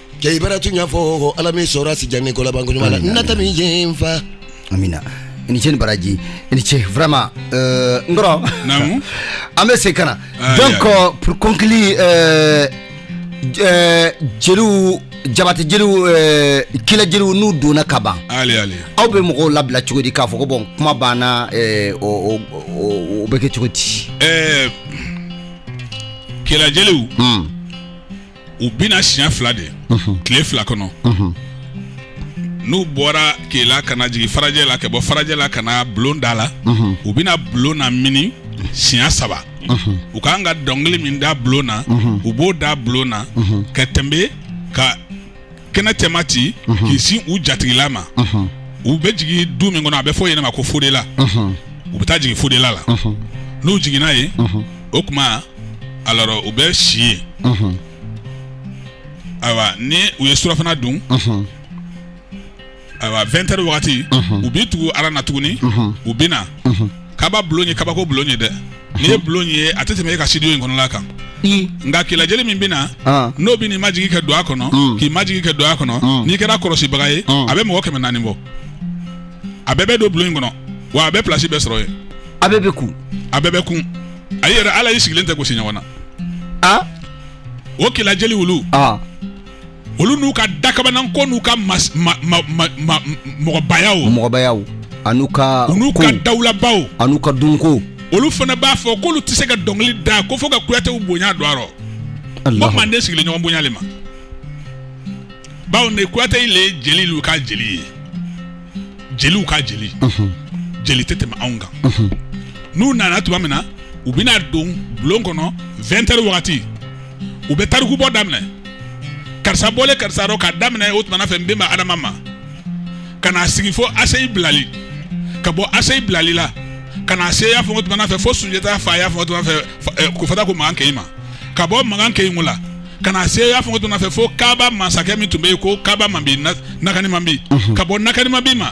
Cɛ i bara tuɲa fɔ ala m'i sɔra si jan ni kolaban ko ɲuma la nata min jɛ n fa amina i ni ce ni baraji i ni ce vraiment n kɔrɔ namu an bɛ se ka na donc pour conclure jeliw jabati jeliw kela jeliw n'u donna kaba aw bɛ mɔgɔw labila cogo di k'a fɔ ko bon kuma banna o bɛ kɛ cogo di ɛɛ kela jeliw u bɛ na siɲɛ fila de tile fila kɔnɔ n'u bɔra kela ka na jigin farajɛ la ka bɔ farajɛ la ka na bulon da la u bɛna bulon namini siɲɛ saba u ka kan ka dɔnkili min da bulon na u b'o da bulon na ka tɛmɛ ka kɛnɛ cɛma ci mhm. k'i sin u jatigila ma mhm. u bɛ jigin du min kɔnɔ a bɛ fɔ yen ma ko fodela mhm. u bɛ taa jigin fodela la n'u jiginna ye o kuma alors u bɛ si ye ayiwa ni u ye surafana dun ayiwa vingt heures wagati u bɛ tugu aran na tuguni u bɛ na kaba bulon ye kabako bulon ye dɛ n'i ye bulon ye a tɛ tɛmɛ e ka studio in kɔnɔla kan nka kela jeli min bɛ na n'o b'i majigi kɛ don a kɔnɔ k'i majigi kɛ don a kɔnɔ n'i kɛra kɔlɔsibaga ye a bɛ mɔgɔ kɛmɛ naani bɔ a bɛɛ bɛ don bulon in kɔnɔ wa a bɛɛ plasi bɛ sɔrɔ ye a bɛɛ bɛ kun a bɛɛ bɛ kun a yɛrɛ ala y'i sigilen tɛ gosi ɲɔgɔn na o kela jeliw olu olu n'u ka dakabanan ko n'u ka mɔgɔbayaw an'u ka dawulabaw an'u ka dunko olu fana b'a fɔ k'olu tɛ se ka dɔnkili da ko fo ka kuyatew bonya don a rɔ bawo manden sigilen ɲɔgɔn bonya le ma bawo ne kuyate le ye jelilu ka jeli ye jeliw ka jeli jeli tɛ tɛmɛ anw kan n'u nana tuma min na u bɛna don bulon kɔnɔ 20 heures wagati u bɛ tarikubɔ daminɛ karisa bɔlen karisa rɔ k'a daminɛ o tuma na fɛ n bɛnba adama ma ka n'a sigi fo aseyi bilali ka bɔ aseyi bilali la ka n'a se y'a fɔ o tuma na fɛ fo sunjata fa y'a fɔ o tuma na fɛ eh, ko fata ko magan kɛɲi ma ka bɔ magan kɛɲi la ka n'a se y'a fɔ o tuma na fɛ fo kaaba masakɛ min tun bɛ yen ko kaaba manbi nakani manbi mhm. ka bɔ nakani manbi ma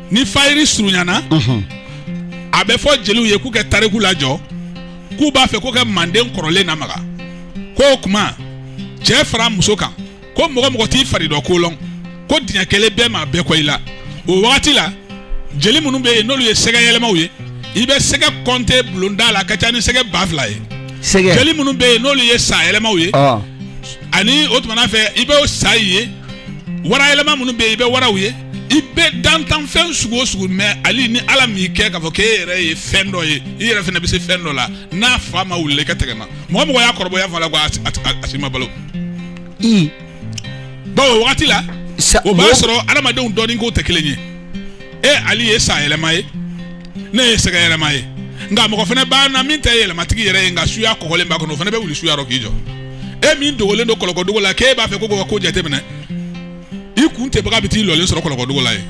ni fayiri surunyana a bɛ fɔ jeliw ye k'u kɛ tariku lajɔ k'u b'a fɛ k'u kɛ manden kɔrɔlen namaga ko o kuma cɛ fara muso kan ko mɔgɔ o mɔgɔ t'i fari dɔ ko lɔn ko diɲɛ kelen bɛɛ maa bɛɛ kɔ i la o wagati la jeli minnu bɛ yen n'olu ye sɛgɛ yɛlɛmaw ye i bɛ sɛgɛ kɔnte bulonda la ka ca ni sɛgɛ ba fila ye jeli minnu bɛ yen n'olu ye sa yɛlɛmaw ye ani o tuma na fɛ i bɛ o sa ye wara yɛlɛma minnu bɛ yen i bɛ waraw ye i bɛ dantanfɛn sugu o sugu mɛ hali ni ala m'i kɛ k'a fɔ k'e yɛrɛ ye fɛn dɔ ye i yɛrɛ fana bɛ se fɛn dɔ la n'a fa ma wuli ka tɛgɛ ma mɔgɔ o mɔgɔ y'a kɔrɔbɔ yan fan la ko a si ma balo bawo o wagati la o b'a sɔrɔ adamadenw dɔnni kow tɛ kelen ye e ali ye sa yɛlɛma ye ne ye sɛgɛ yɛlɛma ye nka mɔgɔ fana b'a na min tɛ yɛlɛmatigi yɛrɛ ye nka suya kɔgɔlen b'a kɔnɔ o fana bɛ wuli suya rɔ k'i jɔ e min dogolen don kɔlɔkɔdugu la k'e b'a fɛ ko ka ko jateminɛ i kuntɛbaga bɛ t'i lɔlen sɔrɔ kɔlɔkɔdugu la yen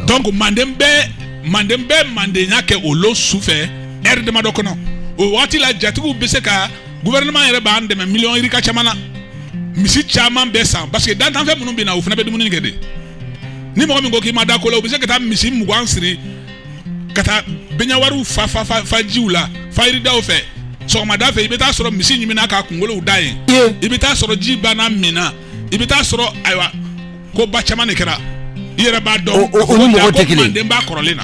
donc manden bɛ manden bɛ mandenya kɛ o lon su fɛ ɛri damadɔ kɔnɔ o waati la jatigiw bɛ se ka gouvernement yɛrɛ b'an dɛmɛ miliyɔn yirika caman na misi caman bɛ san parce que dantanfɛn minnu bɛ na o fana bɛ dumuni kɛ dɛ ni mɔgɔ min ko k'i ma da ko la u bɛ se ka taa misi mugan siri ka taa bɛnɲawariw fa jiw la fayiridaw fɛ sɔgɔmada fɛ i bɛ taa sɔrɔ misi ɲiminna k'a kunkolow da yen i bɛ taa sɔrɔ ji banna min na i bɛ taa sɔrɔ ayiwa ko ba caman de kɛra i yɛrɛ b'a dɔn o ni mɔgɔ tɛ kelen mandenba kɔrɔlen na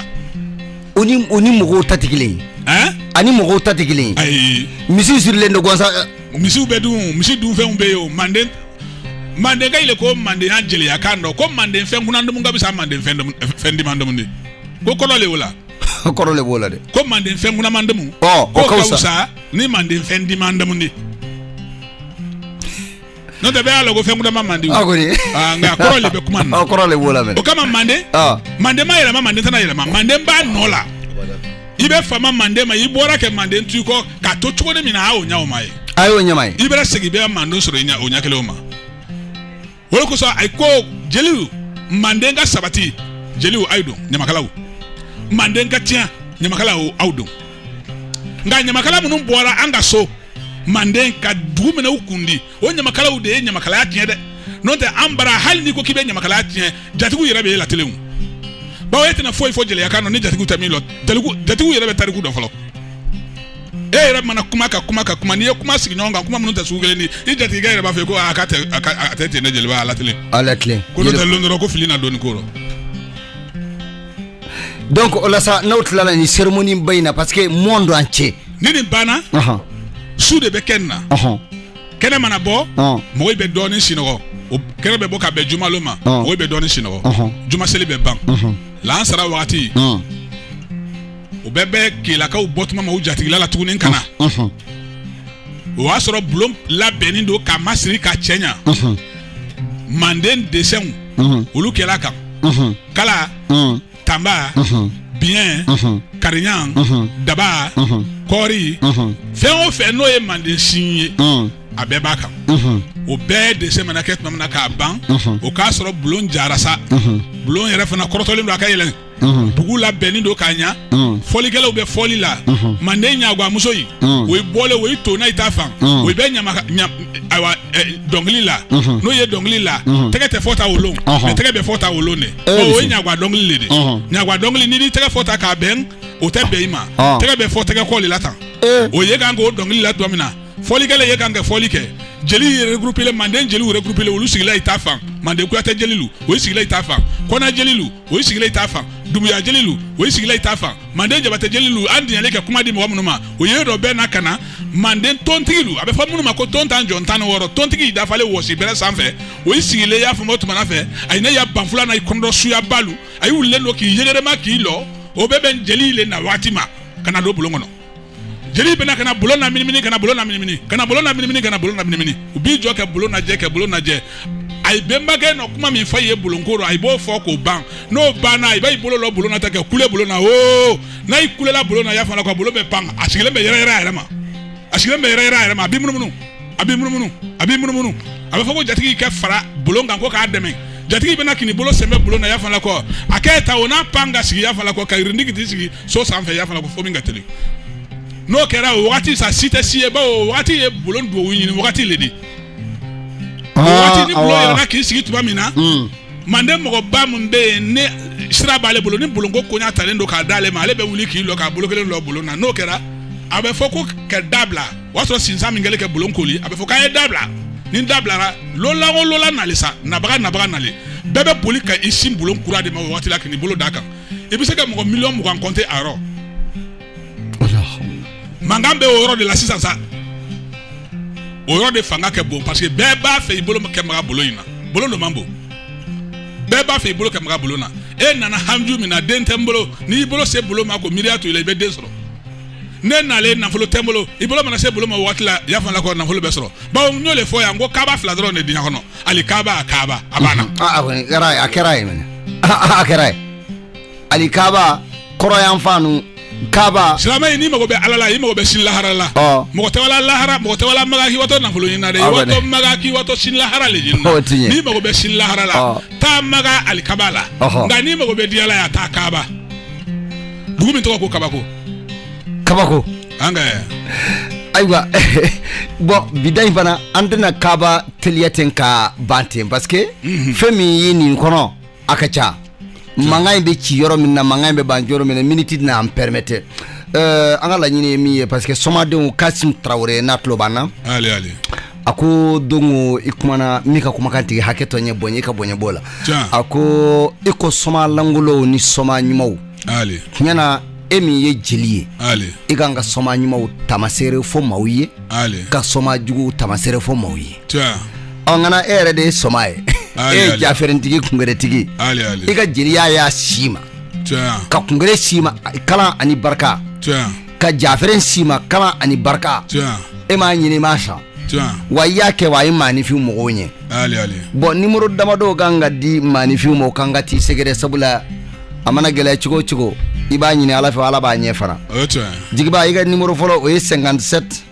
u ni mɔgɔw ta tɛ kelen ani mɔgɔw ta tɛ kelen misi sirilen don gansan misi bɛ dun misi dunfɛnw bɛ yen o manden mandenka ye ko mandenya jeliya kan don ko manden fɛn kunan damun ka fisa manden fɛn diman damun di ko kɔrɔ le o la kɔrɔ le o la dɛ ko manden fɛn kunaman damun ka wusa ni manden fɛn dimand n'o tɛ bɛɛ y'a lɔn ko fɛn kunaman man di ah, ah, nka kɔrɔ de bɛ kuma na ah, kɔrɔ de b'o la o kama manden manden ma yɛlɛma manden tɛna yɛlɛma manden b'a nɔ la i bɛ fama manden ma i bɔra kɛ manden to kɔ k'a to cogo min na a y'o ɲɛ o ma ye a y'o ɲɛma ye i bɛna segin i bɛ manden sɔrɔ o ɲɛ kelen o ma o de kosɔn a ko jeliw manden ka sabati jeliw aw don ɲamakalaw manden ka tiɲɛ ɲamakalaw aw don nka ɲamakala minnu bɔra an ka so manden ka dugu minɛ u kundi o ɲamakalaw de ye ɲamakalaya tiɲɛ dɛ n'o tɛ an bara hali n'i ko k'i bɛ ɲamakalaya tiɲɛ jatigiw yɛrɛ bɛ e latelen bawo e tɛna foyi fɔ jeliya kan ni jatigiw tɛ min lɔn jatigiw yɛrɛ bɛ tariku dɔn fɔlɔ e yɛrɛ mana kuma ka kuma ka kuma n'i ye kuma sigi ɲɔgɔn kan kuma minnu tɛ sugu kelen ni i jatigikɛ yɛrɛ b'a fɔ ko a ka tɛ a tɛ ten ne jeliba a latilen a latilen ko n'o tɛ lon dɔ rɔ ko filila dɔɔni ko rɔ donc o la sa n'aw tilala nin cérémonie ba in na parce que monde entier ni nin banna ɔhɔn su de bɛ kɛ nin na ɔhɔn kɛnɛ mana bɔ ɔn mɔgɔw bɛ dɔɔnin sinɔgɔ o kɛnɛ bɛ bɔ ka bɛn jumalon ma Ɔn. mɔgɔw bɛ dɔɔnin sinɔgɔ Ɔhɔn. juma seli bɛ ban ɔhɔn lansara wagati ɔn o bɛ bɛn kelakaw bɔtuma ma u jatigila la tuguni ka na ɔhɔn o y'a sɔrɔ bulon labɛnnen don k'a masiri k'a cɛɲa ɔhɔn manden desɛnw ɔhɔn olu kɛra a kan ɔhɔn kala mm. tanba mm -hmm. biɲɛ mm -hmm. kariɲan mm -hmm. daba mm -hmm. kɔɔri mm -hmm. fɛn o fɛn n'o ye manden sin ye mm. a bɛɛ b'a kan mm -hmm. o bɛɛ desɛn mana kɛ tuma min na k'a ban mm -hmm. o k'a sɔrɔ bulon jara sa mm -hmm. bulon yɛrɛ fana kɔrɔtɔlen don a ka yɛlɛn mm -hmm. dugu labɛnnen don k'a ɲa mm -hmm. fɔlikɛlaw bɛ fɔli la mm -hmm. manden ɲaguwamuso yi mm -hmm. o ye bɔlen o ye tonna i ta fan mm -hmm. o bɛ ɲama ayiwa eh, dɔnkili la mhm. n'o ye dɔnkili la mhm. tɛgɛ tɛ fɔ tan o lon mɛ tɛgɛ bɛ fɔ tan o lon de eh, o ye ɲagwa dɔnkili le de ɲagwa dɔnkili n'i tɛgɛ fɔ tan k'a bɛn o tɛ bɛn i ma ah. tɛgɛ bɛ fɔ tɛgɛ kɔ de la tan eh. o ye kan k'o dɔnkili la tuma min na fɔlikɛla ye kan kɛ fɔli kɛ jeli regroupélen manden jeliw regroupélen olu sigila i ta fan manden kuyatɛ jelilu o sigila i ta fan kɔnɛ jelilu o ye sigilen i ta fan dumuya jelilu o ye sigilen i ta fan manden jabatɛ jelilu an diɲɛlen ka kuma di mɔgɔ minnu ma o ye dɔ bɛɛ na ka na manden tontigilu a bɛ fɔ minnu ma ko tontajɔn tan ni wɔɔrɔ tontigi dafalen wɔsi bɛrɛ sanfɛ o ye sigilen y'a fɔ o tuma na fɛ a ye ne ya banfula na i kɔnɔdɔ suyabalu a y'u wulilen don k'i yɛgɛrɛma k'i lɔ o bɛ bɛn jeli le na waati ma ka na don bulon kɔnɔ jeli bɛna ka na bulon naminimini ka na bulon naminimini ka na bulon naminimini ka na bulon naminimini u b'i jɔ kɛ bulon najɛ kɛ bulon najɛ a ye bɛnbakɛ nɔ kuma min fɔ i ye bulonko rɔ a b'o fɔ k'o ban n'o banna i b'a bolo lɔ bulon na tan kɛ kule bulon na o n'a y'i kulela bulon na y'a fɔla ko bulon bɛ pan a sigilen bɛ yɛrɛyɛrɛ a yɛrɛ ma a sigilen bɛ yɛrɛyɛrɛ a yɛrɛ ma a b'i munumunu a bɛ munumunu a bɛ munumunu a bɛ fɔ ko jatigi ka fara bulon kan ko k'a dɛmɛ jatigi bɛna kini bolo sɛmɛ bulon na y'a fɔ la ko a kɛ ta o n'a pan ka sigi y'a fɔ la ko ka yirindigi t'i sigi so sanfɛ y'a fɔ la ko fo min ka teli n'o kɛra o wagati sa si tɛ si ye bawo o wagati ye bulon duwawu ɲini wagati le de o wagati ni bulon yɛlɛna k'i sigi tuma min na manden mɔgɔba min bɛ yen ne sira b'ale bolo ni bulonko koɲa talen don k'a d'ale ma ale bɛ wuli k'i lɔ k'a bolo kelen lɔ bulon na n'o kɛra a bɛ fɔ ko ka da bila o y'a sɔrɔ sinsan min kɛlen kɛ bulon koli a bɛ fɔ k'an ye da bila ni da bilara lolan o lolan nalen sa nabaga nabaga nalen bɛɛ bɛ boli ka i sin bulon kura de ma o waati la k'i bolo d'a kan i bɛ se ka mɔgɔ miliyɔn mugan compter a yɔrɔ mankan bɛ o yɔrɔ de la sisan sa o yɔrɔ de fanga kɛ bon parce que bɛɛ b'a fɛ i bolo kɛ maga bulon in na bulon dɔ man bon bɛɛ b'a fɛ i bolo kɛ maga bulon na e nana haju min na den tɛ n bolo n'i bolo se bulon ma ko miiriya to i la i bɛ den sɔrɔ ne nalen nafolo tɛ n bolo i bolo mana se bulon ma waati la y'a fɔ la ko nafolo bɛ sɔrɔ bawo n y'o de fɔ yan ko kaaba fila dɔrɔn de diɲɛ kɔnɔ ali kaaba a kaaba a banna a kɔni kɛra a kɛra ye mɛnɛ a kɛra ye ali kaaba kɔrɔn yan fan nu kaaba silamɛ in n'i mago bɛ ala la i mago bɛ sini lahara la mɔgɔ tɛ wa la lahara mɔgɔ tɛ wa la maka k'i watɔ nafolo ɲini na dɛ i watɔ maka k'i watɔ sini lahara le ɲini na n'i mago bɛ sini lahara la taa maka ali kaaba la nka n'i mago bɛ diɲɛ la yan taa kaaba dugu min tɔgɔ ko kabako kabako an ka ayiwa bon bi ta in fana an tɛna kaaba teliya ten ka ban ten parce que mhm. fɛn min ye nin kɔnɔ a ka ca mankan in bɛ ci yɔrɔ min na mankan in bɛ ban yɔrɔ min na miniti tɛna an permettre an ka laɲini ye min ye parce que somadenw kasim tarawele n'a tulo b'an na a ko dongo i kumana min ka kumakan tigi hakɛ to n ye bonya i ka bonya b'o la a ko i ko soma lankolonw ni soma ɲumanw tiɲɛna e min ye jeli ye i kan ka soma ɲumanw tamasere fɔ maaw ye ka soma jugu tamasere fɔ maaw ye ɔ ngana e yɛrɛ de ye soma ye e ye jafɛrɛntigi kungɛrɛtigi i ka jeliya y'a si ma ka kungɛrɛ si ma kalan ani barika ka jafɛrɛn si ma kalan ani barika e m'a ɲini ma sa wa i y'a kɛ wa a ye maaninfin mago ɲɛ bon numéro damadɔ kan ka di maaninfin ma o kan ka t'i sɛgɛrɛ sabula a mana gɛlɛya cogo o cogo i b'a ɲini ala fɛ ala b'a ɲɛ fana jigiba i ka numéro fɔlɔ o ye cinquante-sept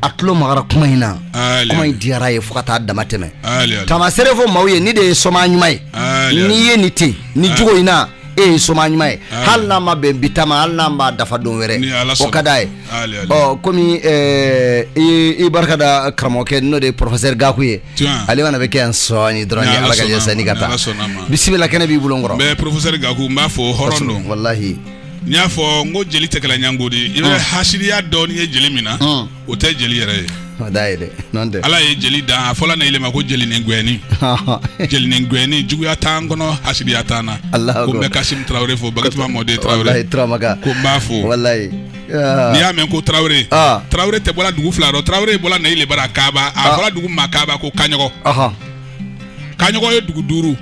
a tulo magara kuma in na kuma in diyara a ye fo ka taa damatɛmɛ tamasere fɔ maaw ye nin de ye soma ɲuman ye n'i ye nin ten ni jogo in na e ye soma ɲuman ye hali n'a ma bɛn bi ta ma hali n'a b'a dafa don wɛrɛ o ka d'a ye ɔ komi i barika da karamɔgɔkɛ n'o de ye professeur gaku ye ale fana bɛ kɛ yan sɔɔni dɔrɔn ni ala ka jɛ sani ka taa bisimila kɛnɛ b'i bolo n kɔrɔ professeur gaku n b'a fo hɔrɔn don walahi n y'a fɔ n ko jeli tɛ kɛla ɲango di i bɛ hasidiya dɔɔni ye jeli min na o tɛ jeli yɛrɛ ye o da ye dɛ n'o tɛ ala ye jeli dan a fɔla ne yi le ma ko jeli ni gwɛnin jeli ni gwɛnin juguya t'an kɔnɔ hasidiya t'an na ko n bɛ Kasim Tarawele fo Bakatuma Mɔden Tarawele ko n b'a fo walayi n'i y'a mɛn ko Tarawele Tarawele tɛ bɔla dugu fila dɔ Tarawele bɔla ne yi le bara Kaaba a fɔla dugu min ma Kaaba ko Kaɲɔgɔn. kaɲɔgɔn ye dugu duuru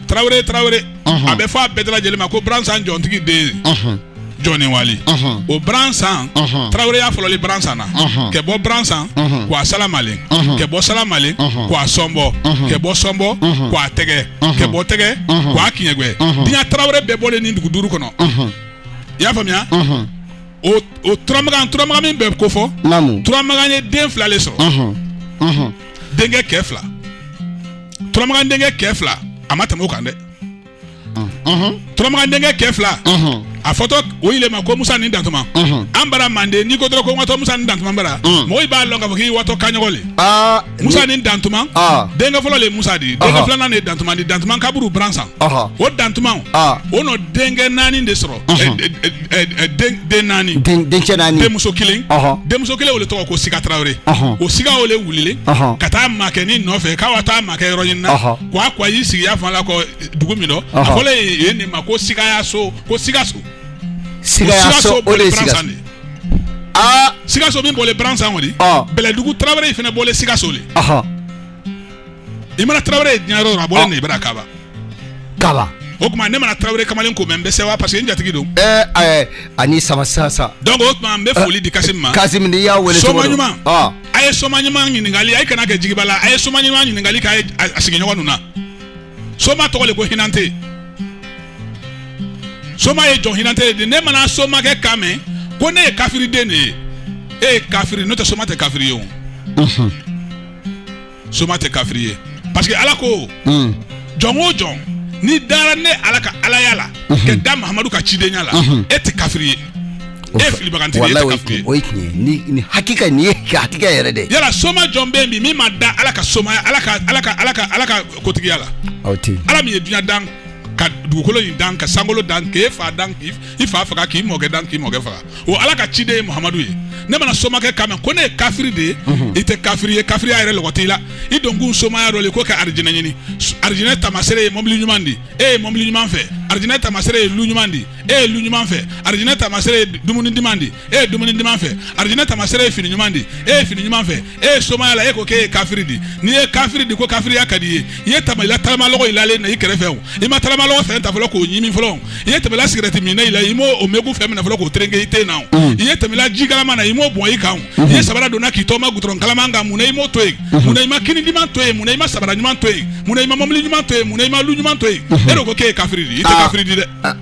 tarawele tarawele a bɛ fɔ a bɛɛ lajɛlen ma ko bransan jɔntigi den jɔni wali o bransan taraweleya fɔlɔlen bransan na kɛ bɔ bransan ka wa salamalen kɛ bɔ salamalen ka wa sɔnbɔ kɛ bɔ sɔnbɔ ka wa tɛgɛ kɛ bɔ tɛgɛ ka wa kiɲɛgwɛ diɲɛ tarawele bɛɛ bɔlen nin dugu duuru kɔnɔ i y'a faamuya o turamagan turamagan min bɛ kofɔ turamagan ye den fila le sɔrɔ denkɛ kɛ fila turamagan denkɛ kɛ fila a ma tɛmɛ o kan dɛ turamagan denkɛ kɛ fila a fɔtɔ o yi le ma ko musa ni dantuma an bara manden n'i ko dɔrɔn ko n watɔ musa ni dantuma bara mɔgɔw b'a lɔn k'a fɔ k'i watɔ kaɲɔgɔn le ah, musa ni dantuma ah. denkɛ fɔlɔ le musa di denkɛ filanan de dantuma di dantuma kaburu bransan o dantuma o nɔ denkɛ naani de sɔrɔ den naani denkɛ naani denmuso kelen denmuso kelen o le tɔgɔ ko siga tarawele o siga o le wulilen ka taa makɛ ni nɔfɛ k'a taa makɛ yɔrɔ ɲini na k' ko a y'i sigiya fan la kɔ dugu min dɔ a fɔlɔ ye nin ma ko sigayaso ko sigaso sigaso o de siga aa sigaso min bɔlen bransan o di bɛlɛdugu tarawele in fana bɔlen sigaso le i mana tarawele ye diɲɛ yɔrɔ a bɔlen ne yi bara kaba kala o tuma ne mana tarawele kamalen ko mɛn n bɛ sɛwa parce que n jatigi don ɛɛ eh, ɛɛ eh, ani sama sasa donc o tuma n bɛ foli di Kasim ma eh, Kasim n'i y'a wele cogo don soma ɲuman ah. a ye soma ɲuman ɲininkali a ye kana kɛ jigiba la a ye soma ɲuman ɲininkali k'a ye a sigiɲɔgɔn ninnu na soma tɔgɔ le ko hinante soma ye jɔn hinante le di ne mana somakɛ kan mɛn ko ne ye kafiriden de ye e ye kafiri n'o tɛ soma tɛ kafiri ye o. soma tɛ kafiri ye parce que ala ko hmm. jɔn o jɔn n'i dara ne ala ka alaya la mhm. k'i da mahamadu ka cidenya la mhm. e tɛ kafiri ye e filibagantigi ye kafiri o ye tiɲɛ ye ni ni hakika nin ye hakika yɛrɛ de yala soma jɔn bɛ yen bi min ma da ala ka somaya ala ka ala ka kotigiya la aw tɛ ala min ye dunya dan ka dugukolo in dan ka sankolo dan k'e fa dan k'i fa faga k'i mɔkɛ dan k'i mɔkɛ faga o ala ka ciden ye mahamadu ye ne mana somakɛ kan mɛn ko ne ye kafiri de ye mhm. i tɛ kafiri ye kafiriya yɛrɛ lɔgɔ t'i la i donkun somaya dɔ le ko ka arijinɛ ɲini arijinɛ tamasere ye mɔbili ɲuman di e ye mɔbili ɲuman fɛ arijinɛ tamasere ye lu ɲuman di e ye lu ɲuman fɛ arijinɛ tamasere ye dumuni diman di e ye dumuni diman fɛ arijinɛ tamasere ye fini ɲuman di e ye fini ɲuman fɛ e ye somaya la e ko k'e ye kafiri di n'i ye kafiri di ko kafiriya ka di ye i ye tɛmɛla tagamalɔgɔ i lalen na i kɛrɛfɛ o i ma tagamalɔgɔ fɛn ta fɔlɔ k'o ɲimi fɔlɔ i ye tɛmɛla sigɛrɛti minna i la i m'o o megu fɛn minɛ fɔlɔ k'o tereke i ten na o mm. i ye tɛmɛla ji kalaman na i m'o bɔn i kan o mm-hmm. i ye sabara donna k'i tɔma gutɔrɔn kalaman kan mun na i m'o to yen mm-hmm. mun na i ma kini diman to yen mun na i ma sabara ɲuman to yen mun na i ma mɔbili ɲuman to yen mun na i ma lu ɲuman to yen mm-hmm. e de ko k'e ye kafiri di i tɛ ah. kafiri di dɛ ah.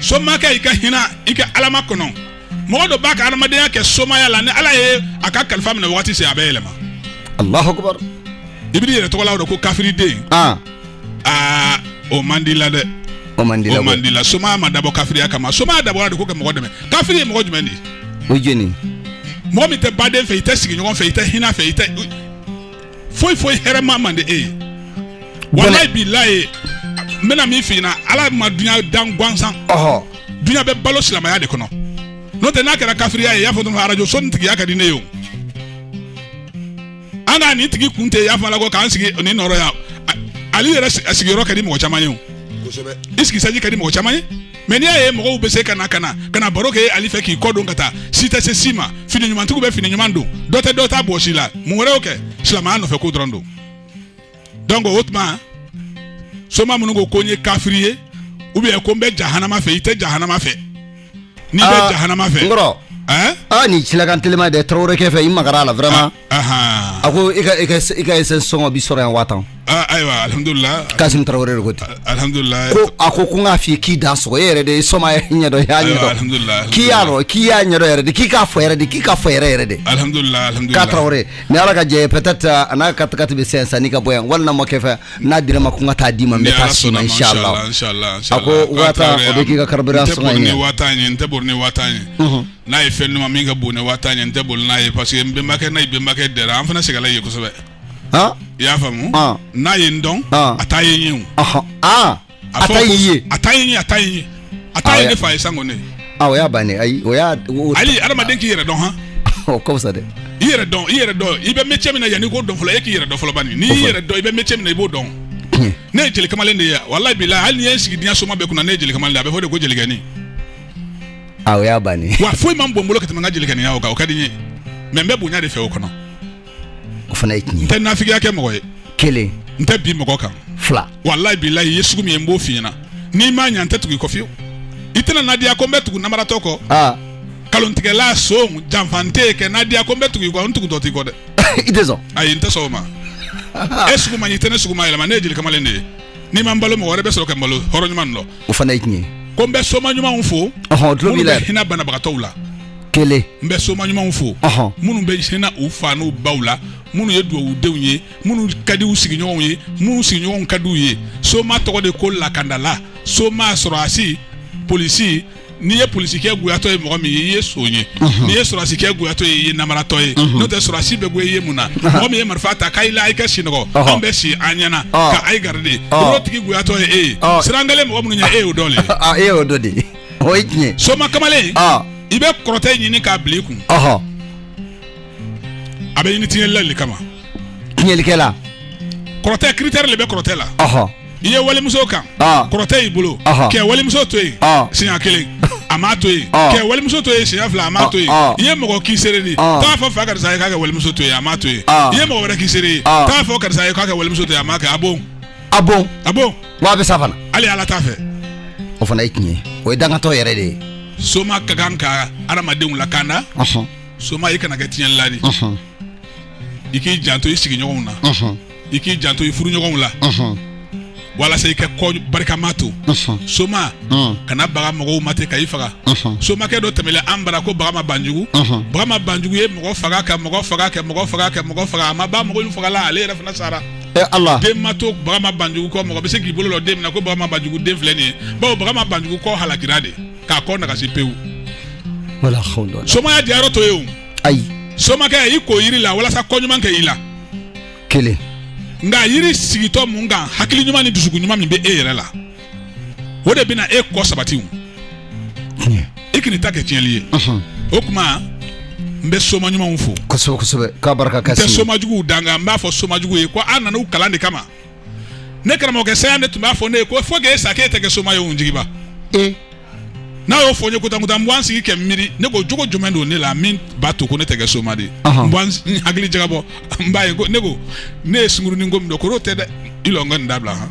somakɛ i ka hinɛ i ka ala ma kɔnɔ mɔgɔ dɔ b'a ka adamadenya kɛ somaya la ni ala ye a ka kalifa minɛ waati se a bɛ yɛlɛma alahu akibar i b'i yɛrɛ tɔgɔ la don ko kafiriden aa o man di la dɛ o man di la somaya ma dabɔ kafiriya kama somaya dabɔra de ko ka mɔgɔ dɛmɛ kafiri ye mɔgɔ jumɛn di o j mɔgɔ min tɛ baden fɛ i tɛ sigiɲɔgɔn fɛ i tɛ hinɛ fɛ i foyi foyi hɛrɛma man di e ye walayi bilayi n bɛna min f'i ɲɛna ala ma dunya dan gansan dunya bɛ balo silamɛya de kɔnɔ n'o tɛ n'a kɛra kafiriya ye i y'a fɔ dɔrɔn arajo so nin tigiya ka di ne ye o an ka nin tigi kun tɛ i y'a fɔ ala ko k'an sigi nin nɔrɔ yan ale yɛrɛ sigiyɔrɔ ka di mɔgɔ caman ye o i sigisaji ka di mɔgɔ caman ye mais n'i y'a ye mɔgɔw bɛ se ka na ka na ka na baro kɛ ale fɛ k'i kɔ don ka taa si tɛ se si ma fini ɲumantigiw bɛ fini ɲuman don dɔ tɛ dɔ ta bɔsi la mun wɛrɛ y'o kɛ silamɛya nɔfɛ ko dɔrɔn don donc o tuma soma minnu ko ko n ye kafiri ye ou bien ko n bɛ jahanama fɛ i tɛ jahanama fɛ n'i bɛ ah, jahanama fɛ n kɔrɔ aa ah, nin silakan telima dɛ tarawele kɛ fɛ i magara la vraiment ah. a ko i ka essence sɔngɔ bɛ sɔrɔ yan waa tan ayiwa alihamudulila kasimu tarawele de ko alihamudulila ko a ko ko n k'a fɔ k'i dansɔgɔ e yɛrɛ de ye somaya ɲɛdɔn i y'a ɲɛdɔn k'i y'a dɔn k'i y'a ɲɛdɔn yɛrɛ de k'i ka fo yɛrɛ de k'i ka fo yɛrɛ yɛrɛ de alihamudulilaa tarawele ni ala ka jɛ peut-être a n'a ka tagati bɛ se sani ka bɔ yan walima ma kɛ fɛ n'a dira ma ko n ka taa d'i ma n bɛ taa s'i ma inisala a ko waa tan o bɛ k'i ka carburant sɔn n'a ye fɛn ɲuman min ka bon ni waa tan ye n tɛ boli n'a ye parce que n bɛnbakɛ n'a bɛnbakɛ dɛ an fana segin ye kosɛbɛ i y'a faamu n'a ye n dɔn a taa ye ye a a a ta ye a ta ye a ta ye ne fa ye san ne o y'a bannen ayi o hali adamaden k'i yɛrɛ dɔn hɔn o kɔsa dɛ i yɛrɛ dɔn i yɛrɛ dɔn i bɛ métier min na yan i k'o dɔn fɔlɔ e k'i yɛrɛ dɔn fɔlɔ bani n'i yɛrɛ dɔn i bɛ métier min na i b'o dɔn ne ye jelikamalen de ye walayi bilayi hali n'i ye n sigi diɲɛ soma bɛɛ kunna ne ye jelikamalen a bɛ fɔ de ko jelikɛnin a o y'a bannen wa foyi man bon n bolo ka tɛmɛ n ka jelikɛninya o kan o ka di n ye mais n bɛ bonya de fɛ o kɔnɔ o fana ye tiɲɛ n tɛ nafigiya kɛ mɔgɔ ye kelen n tɛ bin mɔgɔ kan fila walayi bilayi i ye sugu min ye n b'o f'i ɲɛna n'i m'a ɲɛ n tɛ tugu i kɔ fiyewu i tɛna nadiya ko n bɛ tugu namaratɔ kɔ aa kalontigɛla son janfantɛ kɛ nadiya ko n bɛ tugu i kɔ n tugutɔ t'i kɔ dɛ i tɛ sɔn ayi n tɛ sɔn o ma e sugu man ɲi i tɛ ne sugu ma yɛlɛma ne ye jelikamalen de ye n'i ma n balo mɔgɔ wɛrɛ bɛ sɔrɔ ka n balo hɔrɔn ɲuman dɔ o fana ye tiɲɛ ye ko n bɛ soma ɲumanw fo ɔhɔn tulo b'i minnu la bɛ hinɛ banabagatɔw la kelen n bɛ soma ɲumanw fo Ɔhɔn. minnu bɛ hinɛ u fa n'u baw la minnu ye dugawudenw ye minnu ka di u sigiɲɔgɔnw ye minnu sigiɲɔgɔnw ka di u ye soma tɔgɔ de ko lakandala soma sɔrɔdasi polisi n'i ye polisikɛ goyatɔ ye mɔgɔ min ye i ye son ye n'i ye sɔrɔdasikɛ goyatɔ ye i ye namaratɔ ye n'o tɛ sɔrɔdasi bɛ goya i ye mun na mɔgɔ min ye marifa ta k'a la i ka sinɔgɔ anw bɛ si an ɲɛna ka a ye garidi o tigi goyatɔ ye e ye siran kelen mɔgɔ minnu ɲɛ e y'o dɔ de e y'o dɔ de o ye tiɲɛ soma kamalen i bɛ kɔrɔtɛ ɲini k'a bila i kun a bɛ ɲini tiɲɛlila de kama tiɲɛlikɛla kɔrɔtɛ critère de bɛ kɔrɔtɛ la i ye walimuso kan ah. kɔrɔtɛ y'i bolo kɛ walimuso to yen ah. siɲɛ kelen a m'a to yen ah. kɛ walimuso to yen siɲɛ fila a m'a to yen i ye mɔgɔ k'i seere di t'a fɔ fa karisa ye k'a kɛ walimuso to yen a m'a to yen i ye mɔgɔ wɛrɛ k'i seere ye t'a fɔ karisa ye k'a kɛ walimuso to yen a m'a kɛ a bon a bon a bon wa a bɛ sa fana hali ala t'a fɛ o fana ye tiɲɛ ye o ye dangatɔ yɛrɛ de ye soma ka kan ka adamadenw lakanda soma i kana kɛ tiɲɛlila di i k'i janto i sigiɲɔgɔnw na i k'i janto i furuɲɔgɔnw la walasa i ka kɔ barikama to soma kana baga mɔgɔw ma ten ka i faga somakɛ dɔ tɛmɛla an bara ko bagama banjugu bagama banjugu ye mɔgɔ faga ka mɔgɔ faga ka mɔgɔ faga ka mɔgɔ faga a ma ban mɔgɔ faga la ale yɛrɛ fana sara Ala, den ma to bagama banjugu kɔ mɔgɔ bɛ se k'i bolo lɔ den min na ko bagama banjugu den filɛ nin ye bawo bagama banjugu kɔ halakira de k'a kɔ nagasi pewu somaya diyayɔrɔ t'o ye o ayi somakɛ i ko yiri la walasa kɔ ɲuman kɛ i la kelen nka yiri sigitɔ mun kan hakili ɲuman ni dusukun ɲuman min bɛ e yɛrɛ la o de bɛna e kɔ sabati wo i kan'i ta kɛ tiɲɛli ye o kuma n bɛ soma ɲumanw fo kosɛbɛ kosɛbɛ k'a barika ka n tɛ soma juguw danga n b'a fɔ soma jugu ye ko an nana u kalan de kama ne karamɔgɔkɛ Seyan de tun b'a fɔ ne ye ko fo k'e sa k'e tɛ kɛ soma ye o jigiba e n'a y'o fɔ n ye kotankutan n bɛ wa n sigi ka n miiri ne ko jogo jumɛn don ne la min b'a to ko ne tɛ kɛ soma de ye n bɛ wa n hakili jagabɔ n b'a ye ko ne ko ne ye sungurunin ko min dɔn k'o tɛ dɛ i lɔ n ka nin dabila han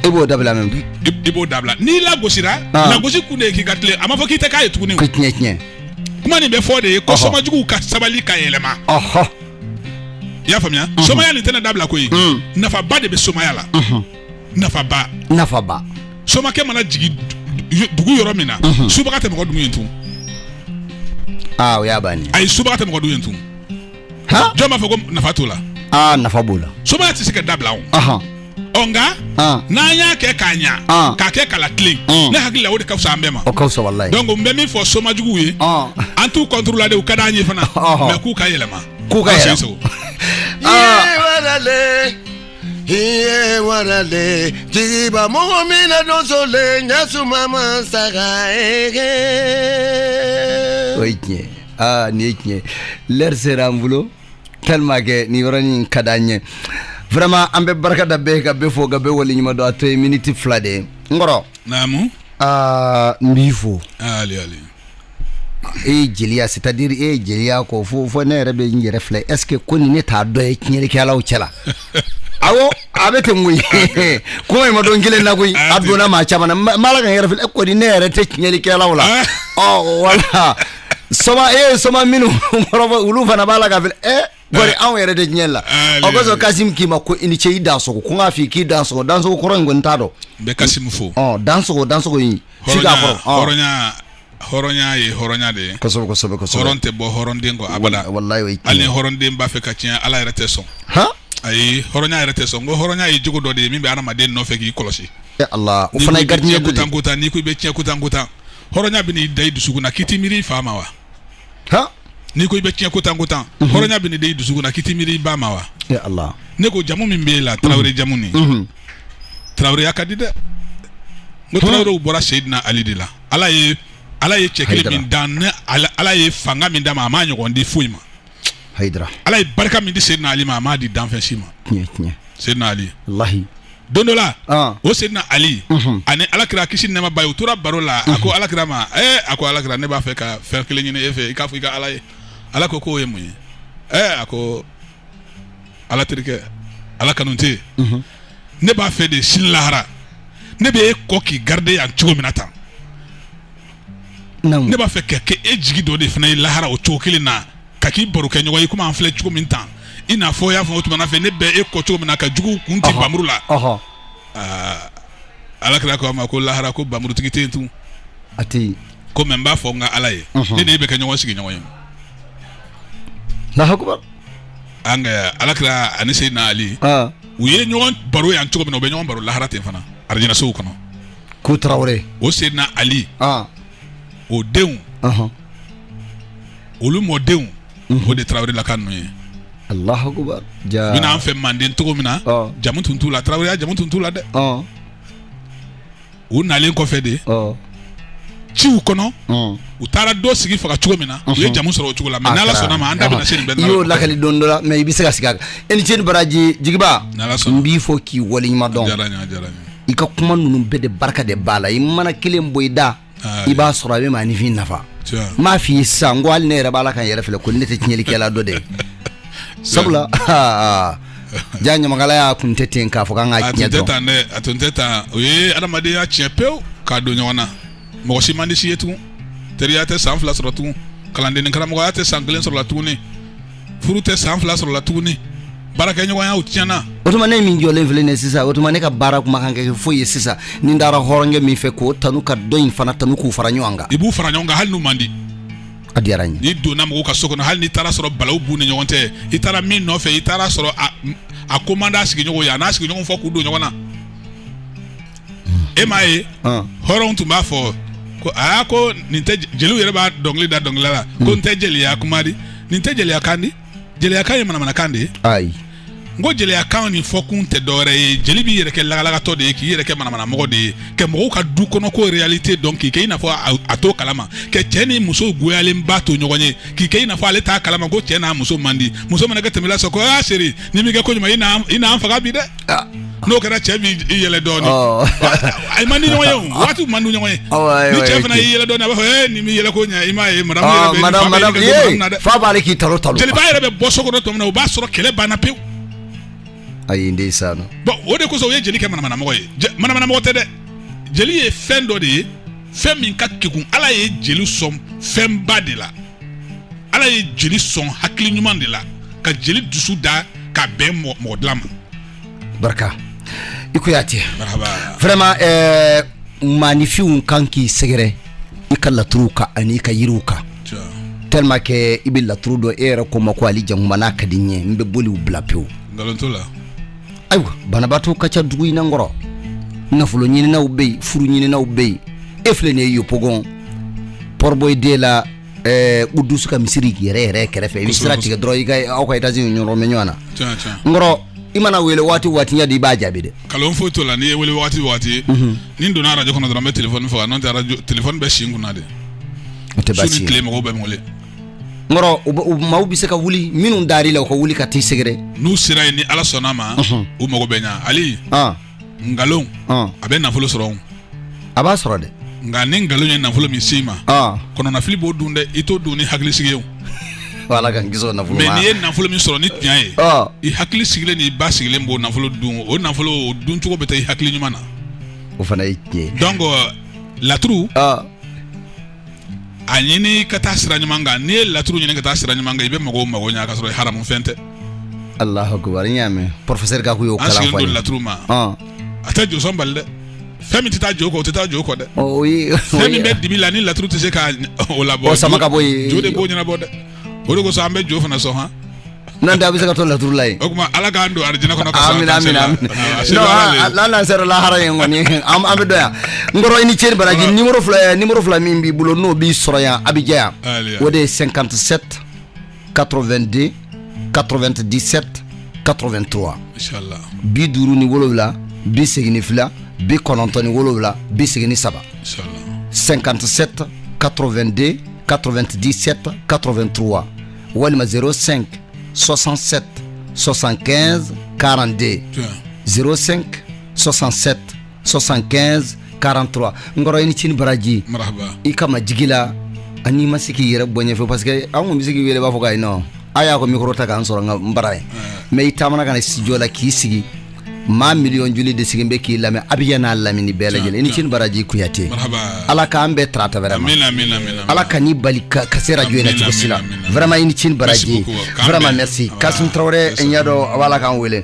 e b'o dabila mɛ bi i b'o dabila n'i lagosira lagosi kun de ye k'i ka tilen a ma fɔ k'i tɛ k'a ye tuguni k'i tiɲɛ tiɲɛ kuma nin bɛ fɔ de ye ko somajuguw ka sabali ka yɛlɛma i y'a faamuya mhm. somaya nin tɛna dabila koyi mm. nafaba de bɛ somaya la mhm. nafaba nafaba somakɛ mana jigin dugu yɔrɔ min na mhm. subaga tɛ mɔgɔ dun yen tugun aa ah, o y'a bannen ayi subaga tɛ mɔgɔ dun yen tugun jɔn b'a fɔ ko nafa t'o la aa ah, nafa b'o la somaya tɛ se ka dabila o ɔ nka ah. n'an y'a kɛ k'a ɲa ah. k'a kɛ k'a latilen ah. ne hakili la o de ka fisa an bɛɛ ma o ka fisa walayi donc n bɛ min fɔ soma juguw ye an t'u contre la dɛ u ka d'an ye fana mais k'u ka yɛlɛma k'u ka yɛlɛma iye warale jigiba mɔgɔ min na donsolen ɲɛsuma ma saga ege o ye tiɲɛ aa nin ye tiɲɛ lɛri sera an bolo tellement que nin yɔrɔnin in ka d'an ye vraiment an bɛ barika da bɛɛ ka bɛɛ fo ka bɛɛ waleɲuman dɔn a to ye miniti fila de ye n kɔrɔ naamu aa n b'i fo ale ale e ye jeliya c'est à dire e ye jeliya ko fɔ fo ne yɛrɛ bɛ n yɛrɛ filɛ est ce que kɔni ne t'a dɔ ye tiɲɛlikɛlaw cɛ la awɔ a bɛ ten koyi kuma in ma don kelen na koyi a donna maa caman na n b'a la ka n yɛrɛ filɛ e kɔni ne yɛrɛ tɛ tiɲɛlikɛlaw la ɔ wala soma e soma minnu kɔrɔfɔ olu fana b'a la k'a filɛ e kori anw yɛrɛ tɛ tiɲɛ la o kosɔn kasim k'i ma ko i ni ce i dansogo ko n k'a f'i k'i dansogo dansogo kɔrɔ n kɔni t'a dɔn n bɛ kasim fo ɔ dansogo dansogo in f'i k'a kɔrɔ hɔrɔnya hɔrɔnya ye hɔrɔnya de ye kosɛbɛ kosɛbɛ kosɛbɛ hɔrɔn tɛ bɔ hɔrɔnden kɔ abada walayi o ye hali ni hɔrɔnden b'a fɛ ka tiɲɛ ala yɛrɛ tɛ sɔn han ayi hɔrɔnya yɛrɛ tɛ sɔn ko hɔrɔnya ye jogo dɔ de ye min bɛ adamaden nɔfɛ k'i kɔlɔsi ala o fana ye gardien ko tan ko tan n'i ko i bɛ tiɲɛ ko tan ko tan hɔrɔnya bɛ n'i da i dusukun na k'i t'i miiri i fa ma wa ha n'i ko i bɛ tiɲɛ ko tan ko tan hɔrɔnya bɛ n'i da i dusukun na k'i t'i miiri i ba ma wa e ala ne ko jamu min b'e la tarawele jamu nin Mhm. taraweleya ka di dɛ n ko tarawelew bɔra seyidina ali de la ala ye ala ye cɛ kelen Hayidara. min dan ne ala, ala ye fanga min d'a ma a m'a ɲɔgɔn di foyi ma hayidara ala ye barika min di seydina ali ma a m'a di danfɛn si ma tiɲɛ tiɲɛ seydina ali walayi don dɔ la ah. o seydina ali mhm. ani alakira kisi nɛɛma b'a ye u tora baro la a ko mhm. alakira ma ee eh, a ko alakira ne b'a fɛ ka fɛn kelen ɲini e fɛ i k'a fɔ i ka ala ye ala ko k'o ye mun ye ee eh, a ko ala terikɛ ala kanu tɛ yen mhm. ne b'a fɛ de sini lahara ne bɛ e kɔ k'i garide yan cogo min na tan ne b'a fɛ ka kɛ e jigi dɔ de fana ye lahara o cogo kelen na ka k'i barokɛɲɔgɔn ye komi an filɛ cogo min tan i n'a fɔ y'a fɔ o tuma fɛ ne bɛ e kɔ cogo min na ka jugu kun tigɛ npanmuru la alakira ko a ma ko lahara ko npanmurutigi tɛ yen tun a ko mais n b'a fɔ n ka ala ye ne ni e bɛ kɛ ɲɔgɔn sigiɲɔgɔn ye an ka alakira ani seydina ali u ye ɲɔgɔn baro yan cogo min na u bɛ ɲɔgɔn baro lahara ten fana alijinɛso kɔnɔ ko tarawele o seydina ali o denw olu mɔdenw mhm. o de tarawelelaka ninnu ye allahu akbar u bɛ na an fɛ manden cogo min na jamu tun t'u la taraweleya jamu tun t'u la dɛ u nalen kɔfɛ de ciw kɔnɔ u taara dɔ sigi faga cogo min na u ye jamu sɔrɔ o cogo la mais n'ala sɔnna ma an da bɛna se nin bɛɛ i y'o lakali don dɔ la mais i bɛ se ka segin a kan i ni ce i ni baraji jigiba n b'i fo k'i waleɲuman dɔn i ka kuma ninnu bɛɛ de barika de b'a la i mana kelen bɔ i da i b'a sɔrɔ a bɛ maanifin nafa n m'a f'i ye sisan ko hali ne yɛrɛ b'a la ka n yɛrɛ filɛ ko ne tɛ tiɲɛlikɛla dɔ de ye sabula ja ɲamakalaya kun tɛ ten k'a fɔ k'an ka tiɲɛ dɔn a tun tɛ tan o ye adamadenya tiɲɛ pewu k'a don ɲɔgɔn na mɔgɔ si man di si ye tugun teriya tɛ san fila sɔrɔ tugun kalanden ni karamɔgɔya tɛ san kelen sɔrɔ la tuguni furu tɛ san fila sɔrɔla tuguni baarakɛɲɔgɔnya o tiɲɛna o tuma ne min jɔlen filɛ nin ye sisan o tuma ne ka baara kun man kan kɛ foyi ye sisan ni n taara hɔrɔnkɛ min fɛ k'o tanu ka dɔ in fana tanu k'u fara ɲɔgɔn kan i b'u fara ɲɔgɔn kan hali n'u man di a diyara n ye n'i donna mɔgɔw ka so kɔnɔ hali n'i taara sɔrɔ balawu b'u ni ɲɔgɔn cɛ i taara min nɔfɛ i taara sɔrɔ a ko man d'a sigiɲɔgɔn ye a n'a sigiɲɔgɔn fo k'u don ɲɔgɔn na e m'a ye hɔrɔnw tun b'a fɔ ko aa ko nin tɛ jeliw yɛrɛ b'a dɔnkili da dɔnkilila la ko n tɛ jeliya kuma di nin tɛ jeliya kan di jeliyakan ye manamanakan de ye ayi n ko jeliyakan nin fɔ kun tɛ dɔwɛrɛ ye jeli b'i yɛrɛ kɛ lagalagatɔ de ye k'i yɛrɛ kɛ manamanamɔgɔ de ye ka mɔgɔw ka dukɔnɔko réalité dɔn k'i kɛ i n'a fɔ a t'o kalama ka cɛ ni muso goyalenba to ɲɔgɔn ye k'i kɛ i n'a fɔ ale t'a kalama ko cɛ n'a muso man di muso mana kɛ tɛmɛ la sɔrɔ ko aa chérie n'i m'i kɛ ko ɲuman i n'an faga bi dɛ Ah. n'o kɛra cɛ b'i yɛlɛ dɔɔni Ɔ. a man di ɲɔgɔn ye o waati man di ɲɔgɔn ye Awɔ, ayiwa, ni cɛ ayiwa, fana ok. y'i yɛlɛ dɔɔni a b'a fɔ ee n'i m'i yɛlɛ ko ɲɛ i m'a ye madame yɛrɛ fa b'a la k'i talon talon jeliba yɛrɛ bɛ bɔ so kɔnɔ tuma min na o b'a sɔrɔ kɛlɛ banna pewu ayi ndeysan non bon o de kosɔn u ye jeli kɛ manamanamɔgɔ ye Je- manamanamɔgɔ tɛ dɛ jeli ye fɛn dɔ de ye fɛn min ka kegun ala ye jeli sɔn fɛnba de la ala ye jeli sɔn hakili ɲuman de la ka jeli dusu da ka bɛn mɔgɔ dilan ma barika i ko y'a tiɲɛ vraiment eh, maanifinw kan k'i sɛgɛrɛ i ka laturuw kan ani i ka yiriw kan tellement que i bɛ laturu dɔn e yɛrɛ ko n ma ko ali jankuma n'a ka di n ye n bɛ boliw bila pewu nkalon t'o la ayiwa banabaatɔ ka ca dugu in na n kɔrɔ nafolo ɲininaw bɛ yen furu ɲininaw bɛ yen e filɛ nin ye yopougon port-bouët deux la ɛɛ koudouss ka misiri yɛrɛ yɛrɛ kɛrɛfɛ i bɛ sira tigɛ dɔrɔn i ka aw ka étage ɲɔgɔn bɛ ɲɔgɔn na Tiɲɛ, tiɲɛ. n kɔrɔ i mana wele waati o waati ɲɛ di i b'a jaabi dɛ kalon foyi t'o la n'i ye n wele waati o waati ni n donna arajo kɔnɔ dɔrɔn n bɛ telefɔni faga n'o tɛ arajo telefɔni bɛ si n kunna de o tɛ baasi ye su ni tile mɔgɔw bɛ n wele n maaw bɛ se ka wuli minnu dar'i la u ka wuli ka t'i sɛgɛrɛ n'u sera yen ni ala sɔnna ma u mago bɛ ɲa ali nkalon a bɛ nafolo sɔrɔ a b'a sɔrɔ dɛ nka ni nkalon ye nafolo min s'i ma kɔnɔnafili b'o dun dɛ i t'o dun ni hakilisigi ye ala k'an kisi o nafolo ma mais n'i ye nafolo min sɔrɔ ni tiɲɛ ye i hakili sigilen n'i basigilen b'o nafolo dun o nafolo duncogo bɛ taa i hakili ɲuman na o fana ye tiɲɛ donc laturu a ɲini ka taa sira ɲuman kan n'i ye laturu ɲini ka taa sira ɲuman kan i bɛ mɔgɔw mago ɲa ka sɔrɔ haramu fɛn tɛ Alahu akibari n y'a mɛn professeur Gaku y'o kalan fɔ an sigilen don laturu ma a tɛ josɔn bali dɛ fɛn min tɛ taa jo kɔ o tɛ taa jo kɔ dɛ fɛn min bɛ dibi la ni laturu tɛ se ka o labɔ o sama ka bɔ yen jo de b'o ɲɛnabɔ dɛ o de kosɔn an bɛ jo fana sɔn han n'an tɛ a bɛ se ka to laturu la yen o tuma ala k'an don arijinɛ kɔnɔ ka amina amina amina non an n'an ah, sera lahara yen kɔni an bɛ dɔn yan n kɔrɔ i ni ce ni baraji ah. nimoro fila eh, nimoro fila min b'i bolo n'o b'i sɔrɔ yan abijan yan o de ye 57 82 97 83 bi duuru ni wolowula bi segin ni fila bi kɔnɔntɔn ni wolowula bi segin ni saba 57 82 97 83 walima 05 67 75 42 05 67 75 43 n kɔrɔ i ni ce ni baraji i ka majigi la ani ma se k'i yɛrɛ bɔ ɲɛfɛ parce que an kun bɛ se k'i wele b'a fɔ k'ayi non a y'a ko micro ta k'an sɔrɔ n ka bara yen mais i taamana ka na studio la k'i sigi maa miliyɔn joli de sigilen bɛ k'i lamɛn abijan n'a lamini bɛɛ lajɛlen i ni ce ni baraji kuyate ala k'an bɛɛ tarata vraiment ala kan'i bali ka se arajo in na cogo si la vraiment i ni ce ni baraji vraiment merci kasim tarawele n y'a dɔn a b'a la k'an wele